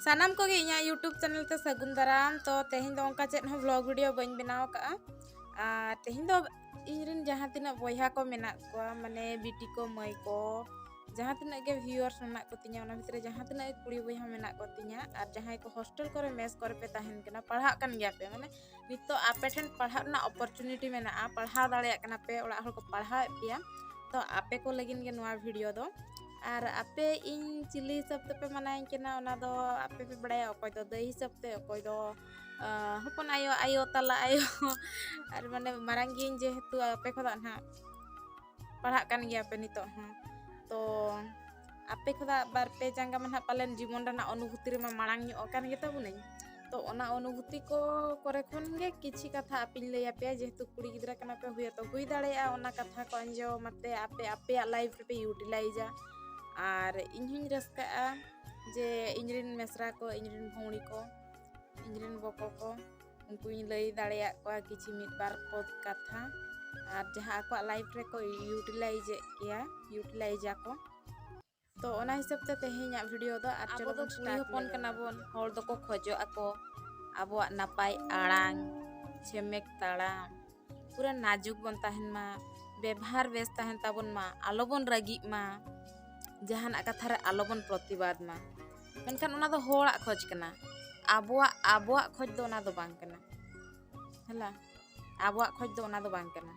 ᱥᱟᱱᱟᱢ ᱠᱚᱜᱮ ᱤᱧᱟᱹᱜ ᱤᱭᱩᱴᱩᱵᱽ ᱪᱮᱱᱮᱞ ᱛᱮ ᱥᱟᱹᱜᱩᱱ ᱫᱟᱨᱟᱢ ᱛᱚ ᱛᱮᱦᱮᱧ ᱫᱚ ᱚᱱᱠᱟ ᱪᱮᱫ ᱦᱚᱸ ᱵᱞᱚᱜ ᱵᱷᱤᱰᱤᱭᱳ ᱵᱟᱹᱧ ᱵᱮᱱᱟᱣ ᱠᱟᱜᱼᱟ ᱟᱨ ᱛᱮᱦᱮᱧ ᱫᱚ ᱤᱧᱨᱮᱱ ᱡᱟᱦᱟᱸ ᱛᱤᱱᱟᱹᱜ ᱵᱚᱭᱦᱟ ᱠᱚ ᱢᱮᱱᱟᱜ ᱠᱚᱣᱟ ᱢᱟᱱᱮ ᱵᱤᱴᱤ ᱠᱚ ᱢᱟᱹᱭ ᱠᱚ ᱡᱟᱦᱟᱸ ᱛᱤᱱᱟᱹᱜ ᱜᱮ ᱵᱷᱤᱭᱩᱣᱟᱨᱥ ᱢᱮᱱᱟᱜ ᱠᱚᱛᱤᱧᱟ ᱚᱱᱟ ᱵᱷᱤᱛᱨᱤ ᱡᱟᱦᱟᱸ ᱛᱤᱱᱟᱹᱜ ᱠᱩᱲᱤ ᱵᱚᱭᱦᱟ ᱢᱮᱱᱟᱜ ᱠᱚᱛᱤᱧᱟ ᱟᱨ ᱡᱟᱦᱟᱸᱭ ᱠᱚ ᱦᱳᱥᱴᱮᱞ ᱠᱚᱨᱮ ᱢᱮᱥ ᱠᱚᱨᱮ ᱯᱮ ᱛᱟᱦᱮᱱ ᱠᱟᱱᱟ ᱯᱟᱲᱦᱟᱜ ᱠᱟᱱ ᱜᱮᱭᱟ ᱯᱮ ᱢᱟᱱᱮ ᱱᱤᱛᱚᱜ ᱟᱯᱮ ᱴᱷᱮᱱ ᱯᱟᱲᱦᱟᱜ ᱨᱮᱱᱟᱜ ᱚᱯᱚᱨᱪᱩᱱᱤᱴᱤ ᱢᱮᱱᱟᱜᱼᱟ ᱯᱟᱲᱦᱟᱣ ᱫᱟᱲᱮᱭᱟᱜ ᱠᱟᱱᱟ ᱯᱮ ᱚᱲᱟᱜ ᱦᱚᱲ ᱠᱚ ᱯᱟᱲᱦᱟᱣᱮᱫ ᱯᱮᱭᱟ ᱛᱚ ᱟᱯᱮ ᱠᱚ ᱞᱟᱹᱜᱤᱫ ᱜᱮ ᱱᱚᱣᱟ ᱵᱷᱤᱰᱤᱭᱳ ᱫᱚ ᱟᱨ ᱟᱯᱮ ᱤᱧ ᱪᱤᱞᱤ ᱦᱤᱥᱟᱹᱵ ᱛᱮᱯᱮ ᱢᱟᱱᱟᱧ ᱠᱟᱱᱟ ᱚᱱᱟ ᱫᱚ ᱟᱯᱮ ᱯᱮ ᱵᱟᱲᱟᱭᱟ ᱚᱠᱚᱭ ᱫᱚ ᱫᱟᱹᱭ ᱦᱤᱥᱟᱹᱵ ᱛᱮ ᱚᱠᱚᱭ ᱫᱚ ᱦᱚᱯᱚᱱ ᱟᱭᱳ ᱟᱭᱳ ᱛᱟᱞᱟ ᱟᱭᱳ ᱟᱨ ᱢᱟᱱᱮ ᱢᱟᱨᱟᱝ ᱜᱤᱭᱟᱹᱧ ᱡᱮᱦᱮᱛᱩ ᱟᱯᱮ ᱠᱷᱚᱱᱟᱜ ᱱᱟᱦᱟᱜ ᱯᱟᱲᱦᱟᱜ ᱠᱟᱱ ᱜᱮᱭᱟ ᱯᱮ ᱱᱤᱛᱚᱜ ᱦᱚᱸ ᱛᱚ ᱟᱯᱮ ᱠᱷᱚᱱᱟᱜ ᱵᱟᱨ ᱯᱮ ᱡᱟᱸᱜᱟ ᱢᱟ ᱱᱟᱦᱟᱜ ᱯᱟᱞᱮᱱ ᱡᱤᱵᱚᱱ ᱨᱮᱱᱟᱜ ᱚᱱᱩᱵᱷᱩᱛᱤ ᱨᱮᱢᱟ ᱢᱟᱲᱟᱝ ᱧᱚᱜ ᱟᱠᱟᱱ ᱜᱮᱛᱟ ᱵᱚᱱᱟᱹᱧ ᱛᱚ ᱚᱱᱟ ᱚᱱᱩᱵᱷᱩᱛᱤ ᱠᱚ ᱠᱚᱨᱮ ᱠᱷᱚᱱ ᱜᱮ ᱠᱤᱪᱷᱤ ᱠᱟᱛᱷᱟ ᱟᱯᱮᱧ ᱞᱟᱹᱭ ᱟᱯᱮᱭᱟ ᱡᱮᱦᱮᱛᱩ ᱠᱩᱲᱤ ᱜᱤᱫᱽᱨᱟᱹ ᱠᱟᱱᱟ ᱯᱮ ᱦᱩᱭ ᱛᱚ ᱦᱩᱭ ᱫᱟᱲᱮᱭᱟᱜᱼᱟ ᱚᱱᱟ ᱠᱟᱛᱷᱟ ᱠᱚ ᱟᱸᱡᱚᱢ ᱟᱛᱮ ᱟᱯᱮ ᱟᱯᱮᱭᱟᱜ ᱞᱟᱭᱤᱯᱷ ᱨᱮᱯᱮ ᱤᱭᱩᱴᱤᱞᱟᱭᱤᱡᱟ ᱟᱨ ᱤᱧ ᱦᱚᱧ ᱨᱟᱹᱥᱠᱟᱹᱜᱼᱟ ᱡᱮ ᱤᱧ ᱨᱮᱱ ᱢᱮᱥᱨᱟ ᱠᱚ ᱤᱧ ᱨᱮᱱ ᱵᱷᱩᱣᱲᱤ ᱠᱚ ᱤᱧ ᱨᱮᱱ ᱵᱚᱠᱚ ᱠᱚ ᱩᱱᱠᱩᱧ ᱞᱟᱹᱭ ᱫᱟᱲᱮᱭᱟᱜ ᱠᱚᱣᱟ ᱠᱤᱪᱷᱩ ᱢᱤᱫ ᱵᱟᱨ ᱯᱚᱫ ᱠᱟᱛᱷᱟ ᱟᱨ ᱡᱟᱦᱟᱸ ᱟᱠᱚᱣᱟᱜ ᱞᱟᱭᱤᱯᱷ ᱨᱮᱠᱚ ᱤᱭᱩᱴᱤᱞᱟᱭᱤᱡᱽ ᱮᱫ ᱜᱮᱭᱟ ᱤᱭᱩᱴᱤᱞᱟᱭᱤᱡᱽ ᱟᱠᱚ ᱛᱚ ᱚᱱᱟ ᱦᱤᱥᱟᱹᱵ ᱛᱮ ᱛᱮᱦᱮᱧᱟᱜ ᱵᱷᱤᱰᱤᱭᱳ ᱫᱚ ᱟᱨ ᱟᱵᱚ ᱫᱚ ᱠᱩᱲᱤ ᱦᱚᱯᱚᱱ ᱠᱟᱱᱟ ᱵᱚᱱ ᱦᱚᱲ ᱫᱚᱠᱚ ᱠᱷᱚᱡᱚᱜ ᱟᱠᱚ ᱟᱵᱚᱣᱟᱜ ᱱᱟᱯᱟᱭ ᱟᱲᱟᱝ ᱪᱷᱮᱢᱮᱠ ᱛᱟᱲᱟᱢ ᱯᱩᱨᱟᱹ ᱱᱟᱡᱩᱠ ᱵᱚᱱ ᱛᱟᱦᱮᱱ ᱢᱟ ᱵᱮᱵᱷᱟᱨ ᱵᱮᱥ ᱛᱟᱦᱮᱱ ᱛᱟᱵᱚᱱ ᱢᱟ ᱟᱞᱚ ᱵᱚᱱ ᱨᱟᱹᱜᱤᱜ ᱢᱟ ᱡᱟᱦᱟᱱᱟᱜ ᱠᱟᱛᱷᱟ ᱨᱮ ᱟᱞᱚ ᱵᱚᱱ ᱯᱨᱚᱛᱤᱵᱟᱫ ᱢᱟ ᱢᱮᱱᱠᱷᱟᱱ ᱚᱱᱟ ᱫᱚ ᱦᱚᱲᱟᱜ ᱠᱷᱚᱡᱽ ᱠᱟᱱᱟ ᱟᱵᱚᱣᱟᱜ ᱟᱵᱚᱣᱟᱜ ᱠᱷᱚᱡᱽ ᱫᱚ ᱚᱱᱟ ᱫᱚ ᱵᱟᱝ ᱠᱟᱱᱟ ᱦᱮᱞᱟ ᱟᱵᱚᱣᱟᱜ ᱠᱷᱚᱡᱽ ᱫᱚ ᱚᱱᱟ ᱫᱚ ᱵᱟᱝ ᱠᱟᱱᱟ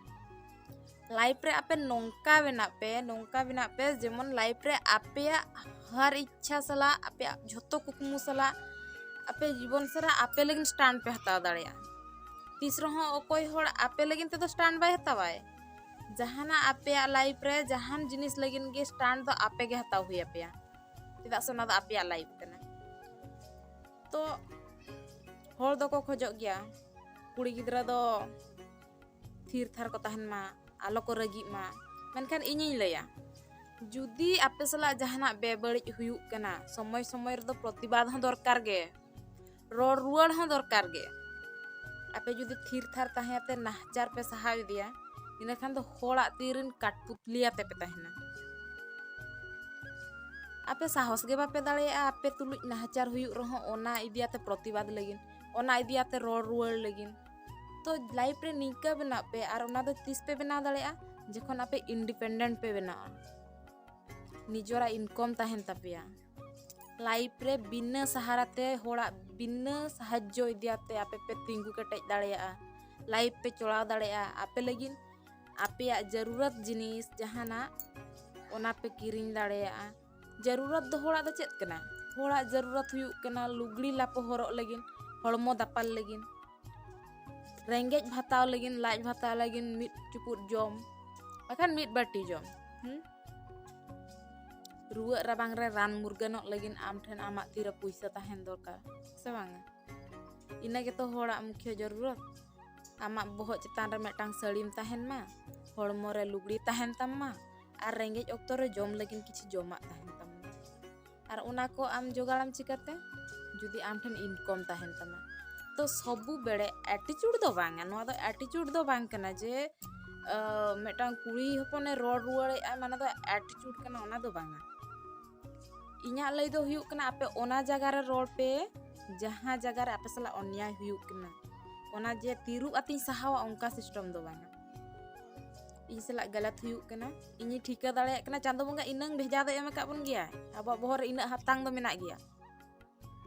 ᱞᱟᱭᱤᱯᱷ ᱨᱮ ᱟᱯᱮ ᱱᱚᱝᱠᱟ ᱵᱮᱱᱟᱜ ᱯᱮ ᱱᱚᱝᱠᱟ ᱵᱮᱱᱟᱜ ᱯᱮ ᱡᱮᱢᱚᱱ ᱞᱟᱭᱤᱯᱷ ᱨᱮ ᱟᱯᱮᱭᱟᱜ ᱦᱟᱨ ᱤᱪᱪᱷᱟ ᱥᱟᱞᱟᱜ ᱟᱯᱮᱭᱟᱜ ᱡᱷᱚᱛᱚ ᱠᱩᱠᱢᱩ ᱥᱟᱞᱟᱜ ᱟᱯᱮ ᱡᱤᱵᱚᱱ ᱥᱟᱨᱟ ᱟᱯᱮ ᱞᱟᱹᱜᱤᱫ ᱥᱴᱟᱱ ᱯᱮ ᱦᱟᱛᱟᱣ ᱫᱟᱲᱮᱭᱟᱜᱼᱟ ᱛᱤᱥ ᱨᱮᱦᱚᱸ ᱚᱠᱚᱭ ᱦᱚᱲ ᱟᱯᱮ ᱞᱟᱹᱜᱤᱫ ᱛᱮᱫᱚ ᱥᱴᱟᱱᱰ ᱵᱟᱭ ᱦᱟᱛᱟᱣᱟᱭ ᱡᱟᱦᱟᱱᱟᱜ ᱟᱯᱮᱭᱟᱜ ᱞᱟᱭᱤᱯᱷ ᱨᱮ ᱡᱟᱦᱟᱱ ᱡᱤᱱᱤᱥ ᱞᱟᱹᱜᱤᱫ ᱜᱮ ᱥᱴᱟᱱᱰ ᱫᱚ ᱟᱯᱮ ᱜᱮ ᱦᱟᱛᱟᱣ ᱦᱩᱭ ᱟᱯᱮᱭᱟ ᱪᱮᱫᱟᱜ ᱥᱮ ᱚᱱᱟ ᱫᱚ ᱟᱯᱮᱭᱟᱜ ᱞᱟᱭᱤᱯᱷ ᱠᱟᱱᱟ ᱛᱚ ᱦᱚᱲ ᱫᱚᱠᱚ ᱠᱷᱚᱡᱚᱜ ᱜᱮᱭᱟ ᱠᱩᱲᱤ ᱜᱤᱫᱽᱨᱟᱹ ᱫᱚ ᱛᱷᱤᱨ ᱛᱷᱟᱨ ᱠᱚ ᱛᱟᱦᱮᱱ ᱢᱟ ᱟᱞᱚ ᱠᱚ ᱨᱟᱹᱜᱤᱜ ᱢᱟ ᱢᱮᱱᱠᱷᱟᱱ ᱤᱧᱤᱧ ᱞᱟᱹᱭᱟ ᱡᱩᱫᱤ ᱟᱯᱮ ᱥᱟᱞᱟᱜ ᱡᱟᱦᱟᱱᱟᱜ ᱵᱮᱵᱟᱹᱲᱤᱡ ᱦᱩᱭᱩᱜ ᱠᱟᱱᱟ ᱥᱚᱢᱚᱭ ᱥᱚᱢᱚᱭ ᱨᱮᱫᱚ ᱯᱨᱚᱛᱤᱵᱟᱫ ᱦᱚᱸ ᱫᱚᱨᱠᱟᱨ ᱜᱮ ᱨᱚᱲ ᱨᱩᱣᱟᱹᱲ ᱦᱚᱸ ᱫᱚᱨᱠᱟᱨ ᱜᱮ ᱟᱯᱮ ᱡᱩᱫᱤ ᱛᱷᱤᱨ ᱛᱷᱟᱨ ᱛᱟᱦᱮᱸ ᱟᱛᱮ ᱱᱟᱦᱪᱟᱨ ᱯᱮ ᱥᱟᱦᱟ ᱤᱫᱤᱭᱟ ᱤᱱᱟᱹ ᱠᱷᱟᱱ ᱫᱚ ᱦᱚᱲᱟᱜ ᱛᱤ ᱨᱮᱱ ᱠᱟᱴᱯᱩᱛᱞᱤ ᱟᱛᱮ ᱯᱮ ᱛᱟᱦᱮᱱᱟ ᱟᱯᱮ ᱥᱟᱦᱚᱥ ᱜᱮ ᱵᱟᱯᱮ ᱫᱟᱲᱮᱭᱟᱜᱼᱟ ᱟᱯᱮ ᱛᱩᱞᱩᱡ ᱱᱟᱦᱪᱟᱨ ᱦᱩᱭᱩᱜ ᱨᱮᱦᱚᱸ ᱚᱱᱟ ᱤᱫᱤ ᱟᱛᱮ ᱯᱨᱚᱛᱤᱵᱟᱫ ᱞᱟᱹᱜᱤᱫ ᱚᱱᱟ ᱤᱫᱤ ᱟᱛᱮ ᱨᱚᱲ ᱨᱩᱣᱟᱹᱲ ᱞᱟᱹᱜᱤᱫ ᱛᱚ ᱞᱟᱭᱤᱯᱷ ᱨᱮ ᱱᱤᱝᱠᱟᱹ ᱵᱮᱱᱟᱜ ᱯᱮ ᱟᱨ ᱚᱱᱟ ᱫᱚ ᱛᱤᱥ ᱯᱮ ᱵᱮᱱᱟᱣ ᱫᱟᱲᱮᱭᱟᱜᱼᱟ ᱡᱚᱠᱷᱚᱱ ᱟᱯᱮ ᱤᱱᱰᱤᱯᱮᱱᱰᱮᱱᱴ ᱯᱮ ᱵᱮᱱᱟᱜᱼᱟ ᱱᱤᱡᱚᱨᱟᱜ ᱤᱱᱠᱚᱢ ᱛᱟᱦᱮᱱ ᱛᱟᱯᱮᱭᱟ ᱞᱟᱭᱤᱯᱷ ᱨᱮ ᱵᱤᱱᱟᱹ ᱥᱟᱦᱟᱨᱟ ᱛᱮ ᱦᱚᱲᱟᱜ ᱵᱤᱱᱟᱹ ᱥᱟᱦᱟᱡᱽᱡᱚ ᱤᱫᱤᱭᱟᱛᱮ ᱟᱯᱮ ᱯᱮ ᱛᱤᱸᱜᱩ ᱠᱮᱴᱮᱡ ᱫᱟᱲᱮᱭᱟᱜᱼᱟ ᱞᱟᱭᱤᱯᱷ ᱯᱮ ᱪᱚᱲᱟᱣ ᱫᱟᱲᱮᱭᱟᱜᱼᱟ ᱟᱯᱮ ᱞᱟᱹᱜᱤᱫ ᱟᱯᱮᱭᱟᱜ ᱡᱟᱹᱨᱩᱨᱟᱛ ᱡᱤᱱᱤᱥ ᱡᱟᱦᱟᱱᱟᱜ ᱚᱱᱟ ᱯᱮ ᱠᱤᱨᱤᱧ ᱫᱟᱲᱮᱭᱟᱜᱼᱟ ᱡᱟᱹᱨᱩᱨᱟᱛ ᱫᱚ ᱦᱚᱲᱟᱜ ᱫᱚ ᱪᱮᱫ ᱠᱟᱱᱟ ᱦᱚᱲᱟᱜ ᱡᱟᱹᱨᱩᱨᱟᱛ ᱦᱩᱭᱩᱜ ᱠᱟᱱᱟ ᱞᱩᱜᱽᱲᱤ ᱞᱟᱯᱚ ᱦᱚᱨᱚᱜ ᱞᱟᱹᱜᱤᱫ ᱦᱚᱲᱢᱚ ᱫᱟᱯᱟᱞ ᱞᱟᱹᱜᱤᱫ ᱨᱮᱸᱜᱮᱡ ᱵᱷᱟᱛᱟᱣ ᱞᱟᱹᱜᱤᱫ ᱞᱟᱡ ᱵᱷᱟᱛᱟᱣ ᱞᱟᱹᱜᱤᱫ ᱢᱤᱫ ᱪᱩᱯᱩᱫ ᱡᱚᱢ ᱵᱟᱠᱷᱟᱱ ᱢᱤᱫ ᱵᱟᱹᱴᱤ ᱡᱚᱢ ᱦᱮᱸ ᱨᱩᱣᱟᱹᱜ ᱨᱟᱵᱟᱝ ᱨᱮ ᱨᱟᱱ ᱢᱩᱨᱜᱟᱹᱱᱚᱜ ᱞᱟᱹᱜᱤᱫ ᱟᱢ ᱴᱷᱮᱱ ᱟᱢᱟᱜ ᱛᱤᱨᱮ ᱯᱩᱭᱥᱟᱹ ᱛᱟᱦᱮᱱ ᱫᱚᱨᱠᱟᱨ ᱥᱮ ᱵᱟᱝᱟ ᱤᱱᱟᱹ ᱜᱮᱛᱚ ᱦᱚᱲᱟᱜ ᱢᱩᱠᱷᱭᱚ ᱡᱚᱨᱩᱨᱚᱛ ᱟᱢᱟᱜ ᱵᱚᱦᱚᱜ ᱪᱮᱛᱟᱱ ᱨᱮ ᱢᱤᱫᱴᱟᱝ ᱥᱟᱹᱲᱤᱢ ᱛᱟᱦᱮᱱ ᱢᱟ ᱦᱚᱲᱢᱚ ᱨᱮ ᱞᱩᱜᱽᱲᱤ ᱛᱟᱦᱮᱱ ᱛᱟᱢ ᱢᱟ ᱟᱨ ᱨᱮᱸᱜᱮᱡ ᱚᱠᱛᱚ ᱨᱮ ᱡᱚᱢ ᱞᱟᱹᱜᱤᱫ ᱠᱤᱪᱷᱩ ᱡᱚᱢᱟᱜ ᱛᱟᱦᱮᱱ ᱛᱟᱢ ᱢᱟ ᱟᱨ ᱚᱱᱟ ᱠᱚ ᱟᱢ ᱡᱚᱜᱟᱲᱟᱢ ᱪᱤᱠᱟᱹᱛᱮ ᱡᱩᱫᱤ ᱟᱢ ᱴᱷᱮᱱ ᱤᱱᱠᱚᱢ ᱛᱟᱦᱮᱱ ᱛᱟᱢᱟ ᱛᱚ ᱥᱚᱵᱩ ᱵᱮᱲᱮ ᱮᱴᱤᱪᱩᱰ ᱫᱚ ᱵᱟᱝᱟ ᱱᱚᱣᱟ ᱫᱚ ᱮᱴᱤᱪᱩᱰ ᱫᱚ ᱵᱟᱝ ᱠᱟᱱᱟ ᱡᱮ ᱢᱤᱫᱴᱟᱝ ᱠᱩᱲᱤ ᱦᱚᱯᱚᱱᱮ ᱨᱚᱲ ᱨᱩᱣᱟᱹᱲᱮᱫᱼᱟ ᱢᱟᱱᱮ ᱫᱚ ᱪᱷᱩᱴ ᱠᱟᱱᱟ ᱚᱱᱟ ᱫᱚ ᱵᱟᱝᱟ ᱤᱧᱟᱹᱜ ᱞᱟᱹᱭ ᱫᱚ ᱦᱩᱭᱩᱜ ᱠᱟᱱᱟ ᱟᱯᱮ ᱚᱱᱟ ᱡᱟᱭᱜᱟ ᱨᱮ ᱨᱚᱲ ᱯᱮ ᱡᱟᱦᱟᱸ ᱡᱟᱭᱜᱟ ᱨᱮ ᱟᱯᱮ ᱥᱟᱞᱟᱜ ᱚᱱᱭᱟᱭ ᱦᱩᱭᱩᱜ ᱠᱟᱱᱟ ᱚᱱᱟ ᱡᱮ ᱛᱤᱨᱩᱵ ᱟᱛᱤᱧ ᱥᱟᱦᱟᱣᱟ ᱚᱱᱠᱟ ᱥᱤᱥᱴᱮᱢ ᱫᱚ ᱵᱟᱝᱟ ᱤᱧ ᱥᱟᱞᱟᱜ ᱜᱟᱞᱟᱛ ᱦᱩᱭᱩᱜ ᱠᱟᱱᱟ ᱤᱧᱤᱧ ᱴᱷᱤᱠᱟᱹ ᱫᱟᱲᱮᱭᱟᱜ ᱠᱟᱱᱟ ᱪᱟᱸᱫᱚ ᱵᱚᱸᱜᱟ ᱤᱱᱟᱹᱝ ᱵᱷᱮᱡᱟ ᱫᱚ ᱮᱢ ᱟᱠᱟᱫ ᱵᱚᱱ ᱜᱮᱭᱟ ᱟᱵᱚᱣᱟᱜ ᱵᱚᱦᱚᱜ ᱨᱮ ᱤᱱᱟᱹᱜ ᱦᱟᱛᱟᱝ ᱫᱚ ᱢᱮᱱᱟᱜ ᱜᱮᱭᱟ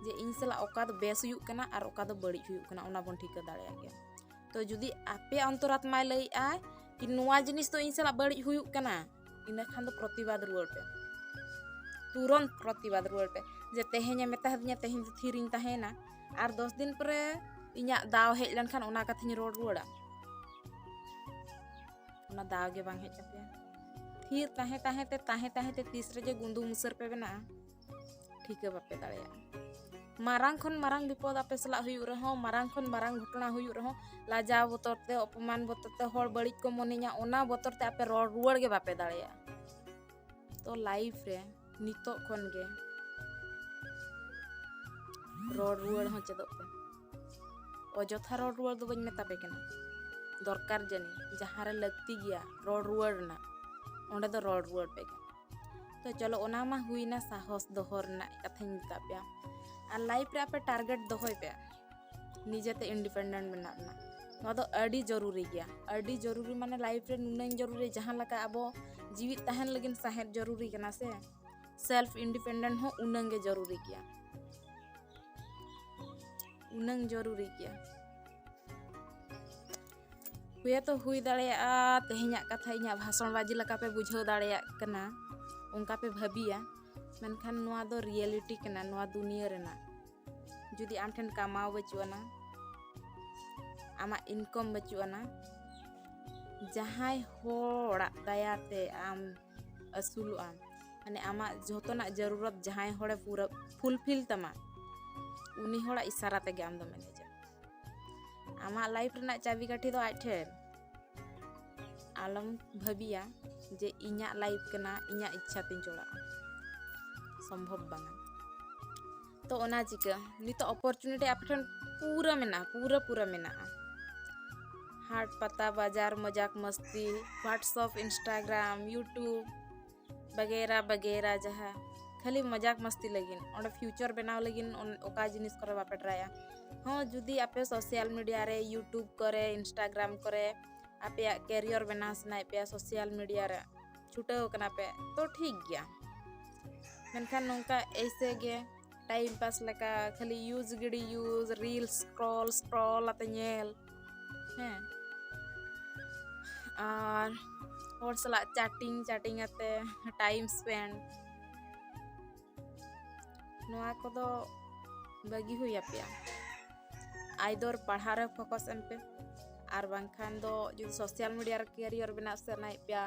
ᱡᱮ ᱤᱧ ᱥᱟᱞᱟᱜ ᱚᱠᱟ ᱫᱚ ᱵᱮᱥ ᱦᱩᱭᱩᱜ ᱠᱟᱱᱟ ᱟᱨ ᱚᱠᱟ ᱫᱚ ᱵᱟᱹᱲᱤᱡ ᱦᱩᱭᱩᱜ ᱠᱟᱱᱟ ᱚᱱᱟ ᱵᱚᱱ ᱴᱷᱤᱠᱟᱹ ᱫᱟᱲᱮᱭᱟᱜ ᱜᱮᱭᱟ ᱛᱚ ᱡᱩᱫᱤ ᱟᱯᱮ ᱚᱱᱛᱚᱨᱟᱛᱢᱟᱭ ᱞᱟᱹᱭᱮᱫᱼᱟ ᱠᱤ ᱱᱚᱣᱟ ᱡᱤᱱᱤᱥ ᱫᱚ ᱤᱧ ᱥᱟᱞᱟᱜ ᱵᱟᱹᱲᱤᱡ ᱦᱩᱭᱩᱜ ᱠᱟᱱᱟ ᱤᱱᱟᱹ ᱠᱷᱟᱱ ᱫᱚ ᱯᱨᱚᱛᱤᱵᱟᱫᱽ ᱨᱩᱣᱟᱹᱲ ᱯᱮ ᱛᱩᱨᱚᱱ ᱯᱨᱚᱛᱤᱵᱟᱫᱽ ᱨᱩᱣᱟᱹᱲ ᱯᱮ ᱡᱮ ᱛᱮᱦᱮᱧᱮ ᱢᱮᱛᱟ ᱫᱤᱧᱟ ᱛᱮᱦᱮᱧ ᱫᱚ ᱛᱷᱤᱨᱤᱧ ᱛᱟᱦᱮᱱᱟ ᱟᱨ ᱫᱚᱥ ᱫᱤᱱ ᱯᱚᱨᱮ ᱤᱧᱟᱹᱜ ᱫᱟᱣ ᱦᱮᱡ ᱞᱮᱱᱠᱷᱟᱱ ᱚᱱᱟ ᱠᱟᱛᱷᱟᱧ ᱨᱚᱲ ᱨᱩᱣᱟᱹᱲᱟ ᱚᱱᱟ ᱫᱟᱣ ᱜᱮ ᱵᱟᱝ ᱦᱮᱡ ᱟᱯᱮᱭᱟ ᱛᱷᱤᱨ ᱛᱟᱦᱮᱸ ᱛᱟᱦᱮᱸ ᱛᱮ ᱛᱟᱦᱮᱸ ᱛᱟᱦᱮᱸ ᱛᱮ ᱛᱤᱥ ᱨᱮᱡᱮ ᱜᱩᱸᱫᱩ ᱢᱩᱥᱟᱹᱨ ᱯᱮ ᱵᱮᱱᱟᱜᱼᱟ ᱴᱷᱤᱠᱟᱹ ᱵᱟᱯᱮ ᱫᱟᱲᱮᱭᱟᱜᱼᱟ ᱢᱟᱨᱟᱝ ᱠᱷᱚᱱ ᱢᱟᱨᱟᱝ ᱵᱤᱯᱚᱫ ᱟᱯᱮ ᱥᱟᱞᱟᱜ ᱦᱩᱭᱩᱜ ᱨᱮᱦᱚᱸ ᱢᱟᱨᱟᱝ ᱠᱷᱚᱱ ᱢᱟᱨᱟᱝ ᱜᱷᱚᱴᱚᱱᱟ ᱦᱩᱭᱩᱜ ᱨᱮᱦᱚᱸ ᱞᱟᱡᱟᱣ ᱵᱚᱛᱚᱨ ᱛᱮ ᱚᱯᱚᱢᱟᱱ ᱵᱚᱛᱚᱨ ᱛᱮ ᱦᱚᱲ ᱵᱟᱹᱲᱤᱡ ᱠᱚ ᱢᱚᱱᱮᱧᱟ ᱚᱱᱟ ᱵᱚᱛᱚᱨ ᱛᱮ ᱟᱯᱮ ᱨᱚᱲ ᱨᱩᱣᱟᱹᱲ ᱜᱮ ᱵᱟᱯᱮ ᱫᱟᱲᱮᱭᱟᱜᱼᱟ ᱛᱚ ᱞᱟᱭᱤᱯᱷ ᱨᱮ ᱱᱤᱛᱚᱜ ᱠᱷᱚᱱ ᱜᱮ ᱨᱚᱲ ᱨᱩᱣᱟᱹᱲ ᱦᱚᱸ ᱪᱮᱫᱚᱜ ᱯᱮ ᱚᱡᱚᱛᱷᱟ ᱨᱚᱲ ᱨᱩᱣᱟᱹᱲ ᱫᱚ ᱵᱟᱹᱧ ᱢᱮᱛᱟ ᱯᱮ ᱠᱟᱱᱟ ᱫᱚᱨᱠᱟᱨ ᱡᱟᱹᱱᱤᱡ ᱡᱟᱦᱟᱸ ᱨᱮ ᱞᱟᱹᱠᱛᱤ ᱜᱮᱭᱟ ᱨᱚᱲ ᱨᱩᱣᱟᱹᱲ ᱨᱮᱱᱟᱜ ᱚᱸᱰᱮ ᱫᱚ ᱨᱚᱲ ᱨᱩᱣᱟᱹᱲ ᱯᱮ ᱛᱚ ᱪᱚᱞᱚ ᱚᱱᱟ ᱢᱟ ᱦᱩᱭᱱᱟ ᱥᱟᱦᱚᱥ ᱫᱚᱦᱚ ᱨᱮᱱᱟᱜ ᱠᱟᱛᱷᱟᱧ ᱢᱮᱛᱟ ᱯᱮᱭᱟ ᱟᱨ ᱞᱟᱭᱤᱯᱷ ᱨᱮ ᱟᱯᱮ ᱴᱟᱨᱜᱮᱴ ᱫᱚᱦᱚᱭ ᱯᱮ ᱱᱤᱡᱮᱛᱮ ᱤᱱᱰᱤᱯᱮᱱᱰᱮᱱᱴ ᱢᱮᱱᱟᱜ ᱨᱮᱱᱟᱜ ᱱᱚᱣᱟ ᱫᱚ ᱟᱹᱰᱤ ᱡᱚᱨᱩᱨᱤ ᱜᱮᱭᱟ ᱟᱹᱰᱤ ᱡᱚᱨᱩᱨᱤ ᱢᱟᱱᱮ ᱞᱟᱭᱤᱯᱷ ᱨᱮ ᱱᱩᱱᱟᱹᱝ ᱡᱚᱨᱩᱨᱤ ᱡᱟᱦᱟᱸ ᱞᱮᱠᱟ ᱟᱵᱚ ᱡᱤᱣᱤᱫ ᱛᱟᱦᱮᱱ ᱞᱟᱹᱜᱤᱫ ᱥᱟᱦᱮᱫ ᱡᱚᱨᱩᱨᱤ ᱠᱟᱱᱟ ᱥᱮ ᱥᱮᱞᱯᱷ ᱤᱱᱰᱤᱯᱮᱱᱰᱮᱱᱴ ᱦᱚᱸ ᱩᱱᱟᱹᱝ ᱜᱮ ᱡᱚᱨᱩᱨᱤ ᱜᱮᱭᱟ ᱩᱱᱟᱹᱝ ᱡᱚᱨᱩᱨᱤ ᱜᱮᱭᱟ ᱦᱩᱭ ᱛᱚ ᱦᱩᱭ ᱫᱟᱲᱮᱭᱟᱜᱼᱟ ᱛᱮᱦᱮᱧᱟᱜ ᱠᱟᱛᱷᱟ ᱤᱧᱟᱹᱜ ᱵᱷᱟᱥᱚᱱ ᱵᱟᱡᱤ ᱞᱮᱠᱟ ᱯᱮ ᱵᱩᱡᱷᱟᱹᱣ ᱫᱟᱲᱮᱭᱟᱜ ᱠᱟᱱᱟ ᱚᱱᱠᱟ ᱯᱮ ᱵᱷᱟᱹᱵᱤᱭᱟ ᱢᱮᱱᱠᱷᱟᱱ ᱱᱚᱣᱟ ᱫᱚ ᱨᱤᱭᱮᱞᱤᱴᱤ ᱠᱟᱱᱟ ᱱᱚᱣᱟ ᱫᱩᱱᱤᱭᱟᱹ ᱨᱮᱱᱟᱜ ᱡᱩᱫᱤ ᱟᱢ ᱴᱷᱮᱱ ᱠᱟᱢᱟᱣ ᱵᱟᱹᱪᱩᱜ ᱟᱱᱟ ᱟᱢᱟᱜ ᱤᱱᱠᱚᱢ ᱵᱟᱹᱪᱩᱜ ᱟᱱᱟ ᱡᱟᱦᱟᱸᱭ ᱦᱚᱲᱟᱜ ᱫᱟᱭᱟᱛᱮ ᱟᱢ ᱟᱹᱥᱩᱞᱚᱜ ᱟᱢ ᱢᱟᱱᱮ ᱟᱢᱟᱜ ᱡᱷᱚᱛᱚᱱᱟᱜ ᱡᱟᱹᱨᱩᱨᱚᱛ ᱡᱟᱦᱟᱸᱭ ᱦᱚᱲᱮ ᱯᱩᱨᱟᱹ ᱯᱷᱩᱞᱯᱷᱤᱞ ᱛᱟᱢᱟ ᱩᱱᱤ ᱦᱚᱲᱟᱜ ᱤᱥᱟᱨᱟ ᱛᱮᱜᱮ ᱟᱢ ᱫᱚᱢ ᱮᱱᱮᱡᱟ ᱟᱢᱟᱜ ᱞᱟᱭᱤᱯᱷ ᱨᱮᱱᱟᱜ ᱪᱟᱵᱤ ᱠᱟᱹᱴᱷᱤ ᱫᱚ ᱟᱡ ᱴᱷᱮᱱ ᱟᱞᱚᱢ ᱵᱷᱟᱹᱵᱤᱭᱟ ᱡᱮ ᱤᱧᱟᱹᱜ ᱞᱟᱭᱤᱯᱷ ᱠᱟᱱᱟ ᱤᱧᱟᱹᱜ ᱤᱪᱪᱷᱟ ᱛᱤᱧ ᱪᱚᱲᱟᱜᱼᱟ ᱥᱚᱢᱵᱷᱚᱵ ᱵᱟᱝᱟ ᱛᱚ ᱚᱱᱟ ᱪᱤᱠᱟᱹ ᱱᱤᱛᱚᱜ ᱚᱯᱚᱨᱪᱩᱱᱤᱴᱤ ᱟᱯᱮ ᱴᱷᱮᱱ ᱯᱩᱨᱟᱹ ᱢᱮᱱᱟᱜᱼᱟ ᱯᱩᱨᱟᱹ ᱯᱩᱨᱟᱹ ᱢᱮᱱᱟᱜᱼᱟ ᱦᱟᱴ ᱯᱟᱛᱟ ᱵᱟᱡᱟᱨ ᱢᱚᱡᱟᱠ ᱢᱚᱥᱛᱤ ᱦᱳᱣᱟᱴᱥᱚᱯ ᱤᱱᱥᱴᱟᱜᱨᱟᱢ ᱤᱭᱩᱴᱩᱵᱽ ᱵᱟᱜᱮᱨᱟ ᱵᱟᱜᱮᱨᱟ ᱡᱟᱦᱟᱸ ᱠᱷᱟᱹᱞᱤ ᱢᱚᱡᱟᱠ ᱢᱟᱥᱛᱤ ᱞᱟᱹᱜᱤᱫ ᱚᱸᱰᱮ ᱯᱷᱤᱭᱩᱪᱟᱨ ᱵᱮᱱᱟᱣ ᱞᱟᱹᱜᱤᱫ ᱚᱠᱟ ᱡᱤᱱᱤᱥ ᱠᱚᱨᱮ ᱵᱟᱯᱮ ᱴᱨᱟᱭᱟ ᱦᱚᱸ ᱡᱩᱫᱤ ᱟᱯᱮ ᱥᱳᱥᱟᱞ ᱢᱤᱰᱤᱭᱟ ᱨᱮ ᱤᱭᱩᱴᱩᱵᱽ ᱠᱚᱨᱮ ᱤᱱᱥᱴᱟᱜᱨᱟᱢ ᱠᱚᱨᱮ ᱟᱯᱮᱭᱟᱜ ᱠᱮᱨᱤᱭᱚᱨ ᱵᱮᱱᱟᱣ ᱥᱟᱱᱟᱭᱮᱫ ᱯᱮᱭᱟ ᱥᱳᱥᱟᱞ ᱢᱤᱰᱤᱭᱟ ᱨᱮ ᱪᱷᱩᱴᱟᱹᱣ ᱠᱟᱱᱟ ᱯᱮ ᱛᱚ ᱴᱷᱤᱠ ᱜᱮᱭᱟ ᱢᱮᱱᱠᱷᱟᱱ ᱱᱚᱝᱠᱟ ᱮᱭᱥᱮ ᱜᱮ ᱴᱟᱭᱤᱢ ᱯᱟᱥ ᱞᱮᱠᱟ ᱠᱷᱟᱹᱞᱤ ᱤᱭᱩᱡᱽ ᱜᱤᱰᱤ ᱤᱭᱩᱡᱽ ᱨᱤᱞ ᱥᱠᱨᱚᱞ ᱥᱠᱨᱚᱞ ᱟᱛᱮ ᱧᱮᱞ ᱦᱮᱸ ᱟᱨ ᱦᱚᱲ ᱥᱟᱞᱟᱜ ᱪᱟᱴᱤᱝ ᱪᱟᱴᱤᱝ ᱟᱛᱮ ᱴᱟᱭᱤᱢ ᱥᱯᱮᱱᱰ ᱱᱚᱣᱟ ᱠᱚᱫᱚ ᱵᱟᱹᱜᱤ ᱦᱩᱭ ᱟᱯᱮᱭᱟ ᱟᱭᱫᱚᱨ ᱯᱟᱲᱦᱟᱣ ᱨᱮ ᱯᱷᱳᱠᱟᱥ ᱮᱢ ᱯᱮ ᱟᱨ ᱵᱟᱝᱠᱷᱟᱱ ᱫᱚ ᱡᱩᱫᱤ ᱥᱳᱥᱟᱞ ᱢᱤᱰᱤᱭᱟ ᱨᱮ ᱠᱮᱨᱤᱭᱚᱨ ᱵᱮᱱᱟᱣ ᱥᱟᱱᱟᱭᱮᱫ ᱯᱮᱭᱟ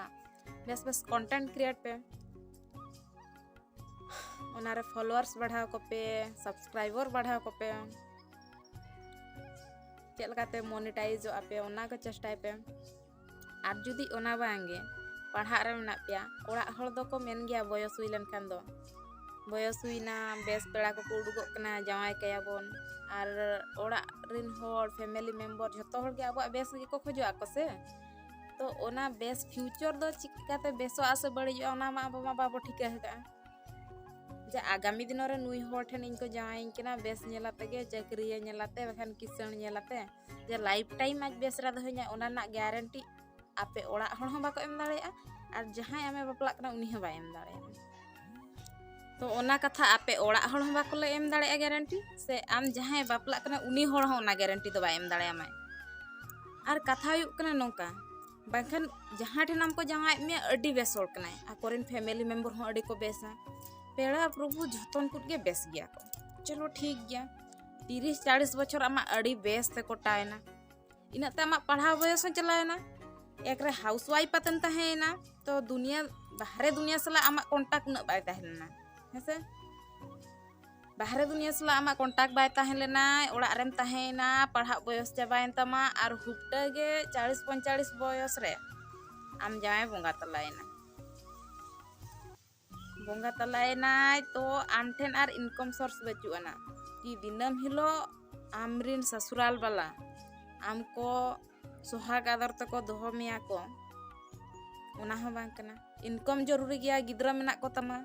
ᱵᱮᱥ ᱵᱮᱥ ᱠᱚᱱᱴᱮᱱᱴ ᱠᱨᱤᱭᱮᱴ ᱯᱮ ᱚᱱᱟ ᱨᱮ ᱯᱷᱚᱞᱚᱣᱟᱨᱥ ᱵᱟᱲᱦᱟᱣ ᱠᱚᱯᱮ ᱥᱟᱵᱥᱠᱨᱟᱭᱵᱚᱨ ᱵᱟᱲᱦᱟᱣ ᱠᱚᱯᱮ ᱪᱮᱫ ᱞᱮᱠᱟᱛᱮ ᱢᱚᱱᱤᱴᱟᱭᱤᱡᱚᱜ ᱟᱯᱮ ᱚᱱᱟ ᱠᱚ ᱪᱮᱥᱴᱟᱭ ᱯᱮ ᱟᱨ ᱡᱩᱫᱤ ᱚᱱᱟ ᱵᱟᱝᱜᱮ ᱯᱟᱲᱦᱟᱜ ᱨᱮ ᱢᱮᱱᱟᱜ ᱯᱮᱭᱟ ᱚᱲᱟᱜ ᱦᱚᱲ ᱫᱚᱠᱚ ᱢᱮᱱ ᱜᱮᱭᱟ ᱵᱚᱭᱚᱥ ᱦᱩᱭ ᱞᱮᱱᱠᱷᱟᱱ ᱫᱚ ᱵᱚᱭᱚᱥ ᱦᱩᱭᱱᱟ ᱵᱮᱥ ᱯᱮᱲᱟ ᱠᱚᱠᱚ ᱩᱰᱩᱠᱚᱜ ᱠᱟᱱᱟ ᱡᱟᱶᱟᱭ ᱠᱟᱭᱟᱵᱚᱱ ᱟᱨ ᱚᱲᱟᱜ ᱨᱮᱱ ᱦᱚᱲ ᱯᱷᱮᱢᱮᱞᱤ ᱢᱮᱢᱵᱚᱨ ᱡᱷᱚᱛᱚ ᱦᱚᱲᱜᱮ ᱟᱵᱚᱣᱟᱜ ᱵᱮᱥ ᱜᱮᱠᱚ ᱠᱷᱚᱡᱚᱜ ᱟᱠᱚ ᱥᱮ ᱛᱚ ᱚᱱᱟ ᱵᱮᱥ ᱯᱷᱤᱭᱩᱪᱚᱨ ᱫᱚ ᱪᱤᱠᱟᱹᱛᱮ ᱵᱮᱥᱚᱜᱼᱟ ᱥᱮ ᱵᱟᱹᱲᱤᱡᱚᱜᱼᱟ ᱚᱱᱟ ᱢᱟ ᱟᱵᱚ ᱢᱟ ᱵᱟᱵᱚ ᱴᱷᱤᱠᱟᱹ ᱟᱠᱟᱫᱼᱟ ᱡᱮ ᱟᱜᱟᱢᱤ ᱫᱤᱱ ᱨᱮ ᱱᱩᱭ ᱦᱚᱲ ᱴᱷᱮᱱ ᱤᱧ ᱠᱚ ᱡᱟᱶᱟᱭᱤᱧ ᱠᱟᱱᱟ ᱵᱮᱥ ᱧᱮᱞ ᱟᱛᱮ ᱜᱮ ᱪᱟᱹᱠᱨᱤᱭᱮ ᱧᱮᱞ ᱟᱛᱮ ᱵᱟᱠᱷᱟᱱ ᱠᱤᱥᱟᱹᱬ ᱧᱮᱞ ᱟᱛᱮ ᱡᱮ ᱞᱟᱭᱤᱯᱷ ᱴᱟᱭᱤᱢ ᱟᱡ ᱵᱮᱥ ᱨᱮ ᱫᱚᱦᱚᱧᱟ ᱚᱱᱟ ᱨᱮᱱᱟᱜ ᱜᱮᱨᱮᱱᱴᱤ ᱟᱯᱮ ᱚᱲᱟᱜ ᱦᱚᱲ ᱦᱚᱸ ᱵᱟᱠᱚ ᱮᱢ ᱫᱟᱲᱮᱭᱟᱜᱼᱟ ᱟᱨ ᱡᱟᱦᱟᱸᱭ ᱟᱢᱮ ᱵᱟᱯᱞᱟᱜ ᱠᱟᱱᱟ ᱩᱱᱤ ᱦᱚᱸ ᱵᱟᱭ ᱮᱢ ᱫᱟᱲᱮᱭᱟᱜᱼᱟ ᱛᱚ ᱚᱱᱟ ᱠᱟᱛᱷᱟ ᱟᱯᱮ ᱚᱲᱟᱜ ᱦᱚᱲ ᱦᱚᱸ ᱵᱟᱠᱚ ᱞᱟᱹᱭ ᱮᱢ ᱫᱟᱲᱮᱭᱟᱜᱼᱟ ᱜᱮᱨᱮᱱᱴᱤ ᱥᱮ ᱟᱢ ᱡᱟᱦᱟᱸᱭ ᱵᱟᱯᱞᱟᱜ ᱠᱟᱱᱟ ᱩᱱᱤ ᱦᱚᱲ ᱦᱚᱸ ᱚᱱᱟ ᱜᱮᱨᱮᱱᱴᱤ ᱫᱚ ᱵᱟᱭ ᱮᱢ ᱫᱟᱲᱮᱭᱟᱢᱟᱭ ᱟᱨ ᱠᱟᱛᱷᱟ ᱦᱩᱭᱩᱜ ᱠᱟᱱᱟ ᱱᱚᱝᱠᱟ ᱵᱟᱝᱠᱷᱟᱱ ᱡᱟᱦᱟᱸ ᱴᱷᱮᱱ ᱟᱢ ᱠᱚ ᱡᱟᱶᱟᱭᱮᱫ ᱢᱮᱭᱟ ᱟᱹᱰᱤ ᱵᱮᱥ ᱦᱚᱲ ᱠᱟᱱᱟᱭ ᱟᱠᱚᱨᱮᱱ ᱯᱷᱮᱢᱮᱞᱤ ᱢᱮᱢᱵᱚᱨ ᱦᱚᱸ ᱟᱹᱰᱤ ᱠᱚ ᱵᱮᱥᱟ ᱯᱮᱲᱟ ᱯᱨᱚᱵᱷᱩ ᱡᱷᱚᱛᱚᱱ ᱠᱚ ᱜᱮ ᱵᱮᱥ ᱜᱮᱭᱟ ᱠᱚ ᱪᱚᱞᱚ ᱴᱷᱤᱠ ᱜᱮᱭᱟ ᱛᱤᱨᱤᱥ ᱪᱟᱞᱤᱥ ᱵᱚᱪᱷᱚᱨ ᱟᱢᱟᱜ ᱟᱹᱰᱤ ᱵᱮᱥ ᱛᱮ ᱠᱚᱴᱟᱭᱮᱱᱟ ᱤᱱᱟᱹᱜ ᱛᱮ ᱟᱢᱟᱜ ᱯᱟᱲᱦᱟᱣ ᱵᱚᱭᱚᱥ ᱦᱚᱸ ᱪᱟᱞᱟᱣᱮᱱᱟ ᱮᱠ ᱨᱮ ᱦᱟᱣᱩᱥ ᱣᱟᱭᱤᱯ ᱟᱛᱮᱢ ᱛᱟᱦᱮᱸᱭᱮᱱᱟ ᱛᱚ ᱫᱩᱱᱤᱭᱟᱹ ᱵᱟᱦᱨᱮ ᱫᱩᱱᱤᱭᱟᱹ ᱥᱟᱞᱟᱜ ᱟᱢᱟᱜ ᱠᱚᱱᱴᱟᱠᱴ ᱩᱱᱟᱹᱜ ᱵᱟᱭ ᱛᱟᱦᱮᱸ ᱞᱮᱱᱟ ᱦᱮᱸᱥᱮ ᱵᱟᱦᱨᱮ ᱫᱩᱱᱤᱭᱟᱹ ᱥᱟᱞᱟᱜ ᱟᱢᱟᱜ ᱠᱚᱱᱴᱟᱠᱴ ᱵᱟᱭ ᱛᱟᱦᱮᱸ ᱞᱮᱱᱟ ᱚᱲᱟᱜ ᱨᱮᱢ ᱛᱟᱦᱮᱸᱭᱮᱱᱟ ᱯᱟᱲᱦᱟᱜ ᱵᱚᱭᱚᱥ ᱪᱟᱵᱟᱭᱮᱱ ᱛᱟᱢᱟ ᱟᱨ ᱦᱩᱯᱴᱟᱹ ᱜᱮ ᱪᱟᱲᱤᱥ ᱯᱚᱧᱪᱟᱲᱤᱥ ᱵᱚᱭᱚᱥ ᱨᱮ ᱟᱢ ᱡᱟᱶᱟᱭ ᱵᱚᱸᱜᱟ ᱛᱟᱞᱟᱭᱮᱱᱟ ᱵᱚᱸᱜᱟ ᱛᱟᱞᱟᱭᱮᱱᱟᱭ ᱛᱚ ᱟᱢ ᱴᱷᱮᱱ ᱟᱨ ᱤᱱᱠᱚᱢ ᱥᱳᱨᱥ ᱵᱟᱹᱪᱩᱜ ᱟᱱᱟ ᱠᱤ ᱫᱤᱱᱟᱹᱢ ᱦᱤᱞᱳᱜ ᱟᱢ ᱨᱤᱱ ᱥᱟᱥᱩᱨᱟᱞ ᱵᱟᱞᱟ ᱟᱢ ᱠᱚ ᱥᱚᱦᱟᱜᱽ ᱟᱫᱚᱨ ᱛᱮᱠᱚ ᱫᱚᱦᱚ ᱢᱮᱭᱟ ᱠᱚ ᱚᱱᱟ ᱦᱚᱸ ᱵᱟᱝ ᱠᱟᱱᱟ ᱤᱱᱠᱚᱢ ᱡᱚᱨᱩᱨᱤ ᱜᱮᱭᱟ ᱜᱤᱫᱽᱨᱟᱹ ᱢᱮᱱᱟᱜ ᱠᱚ ᱛᱟᱢᱟ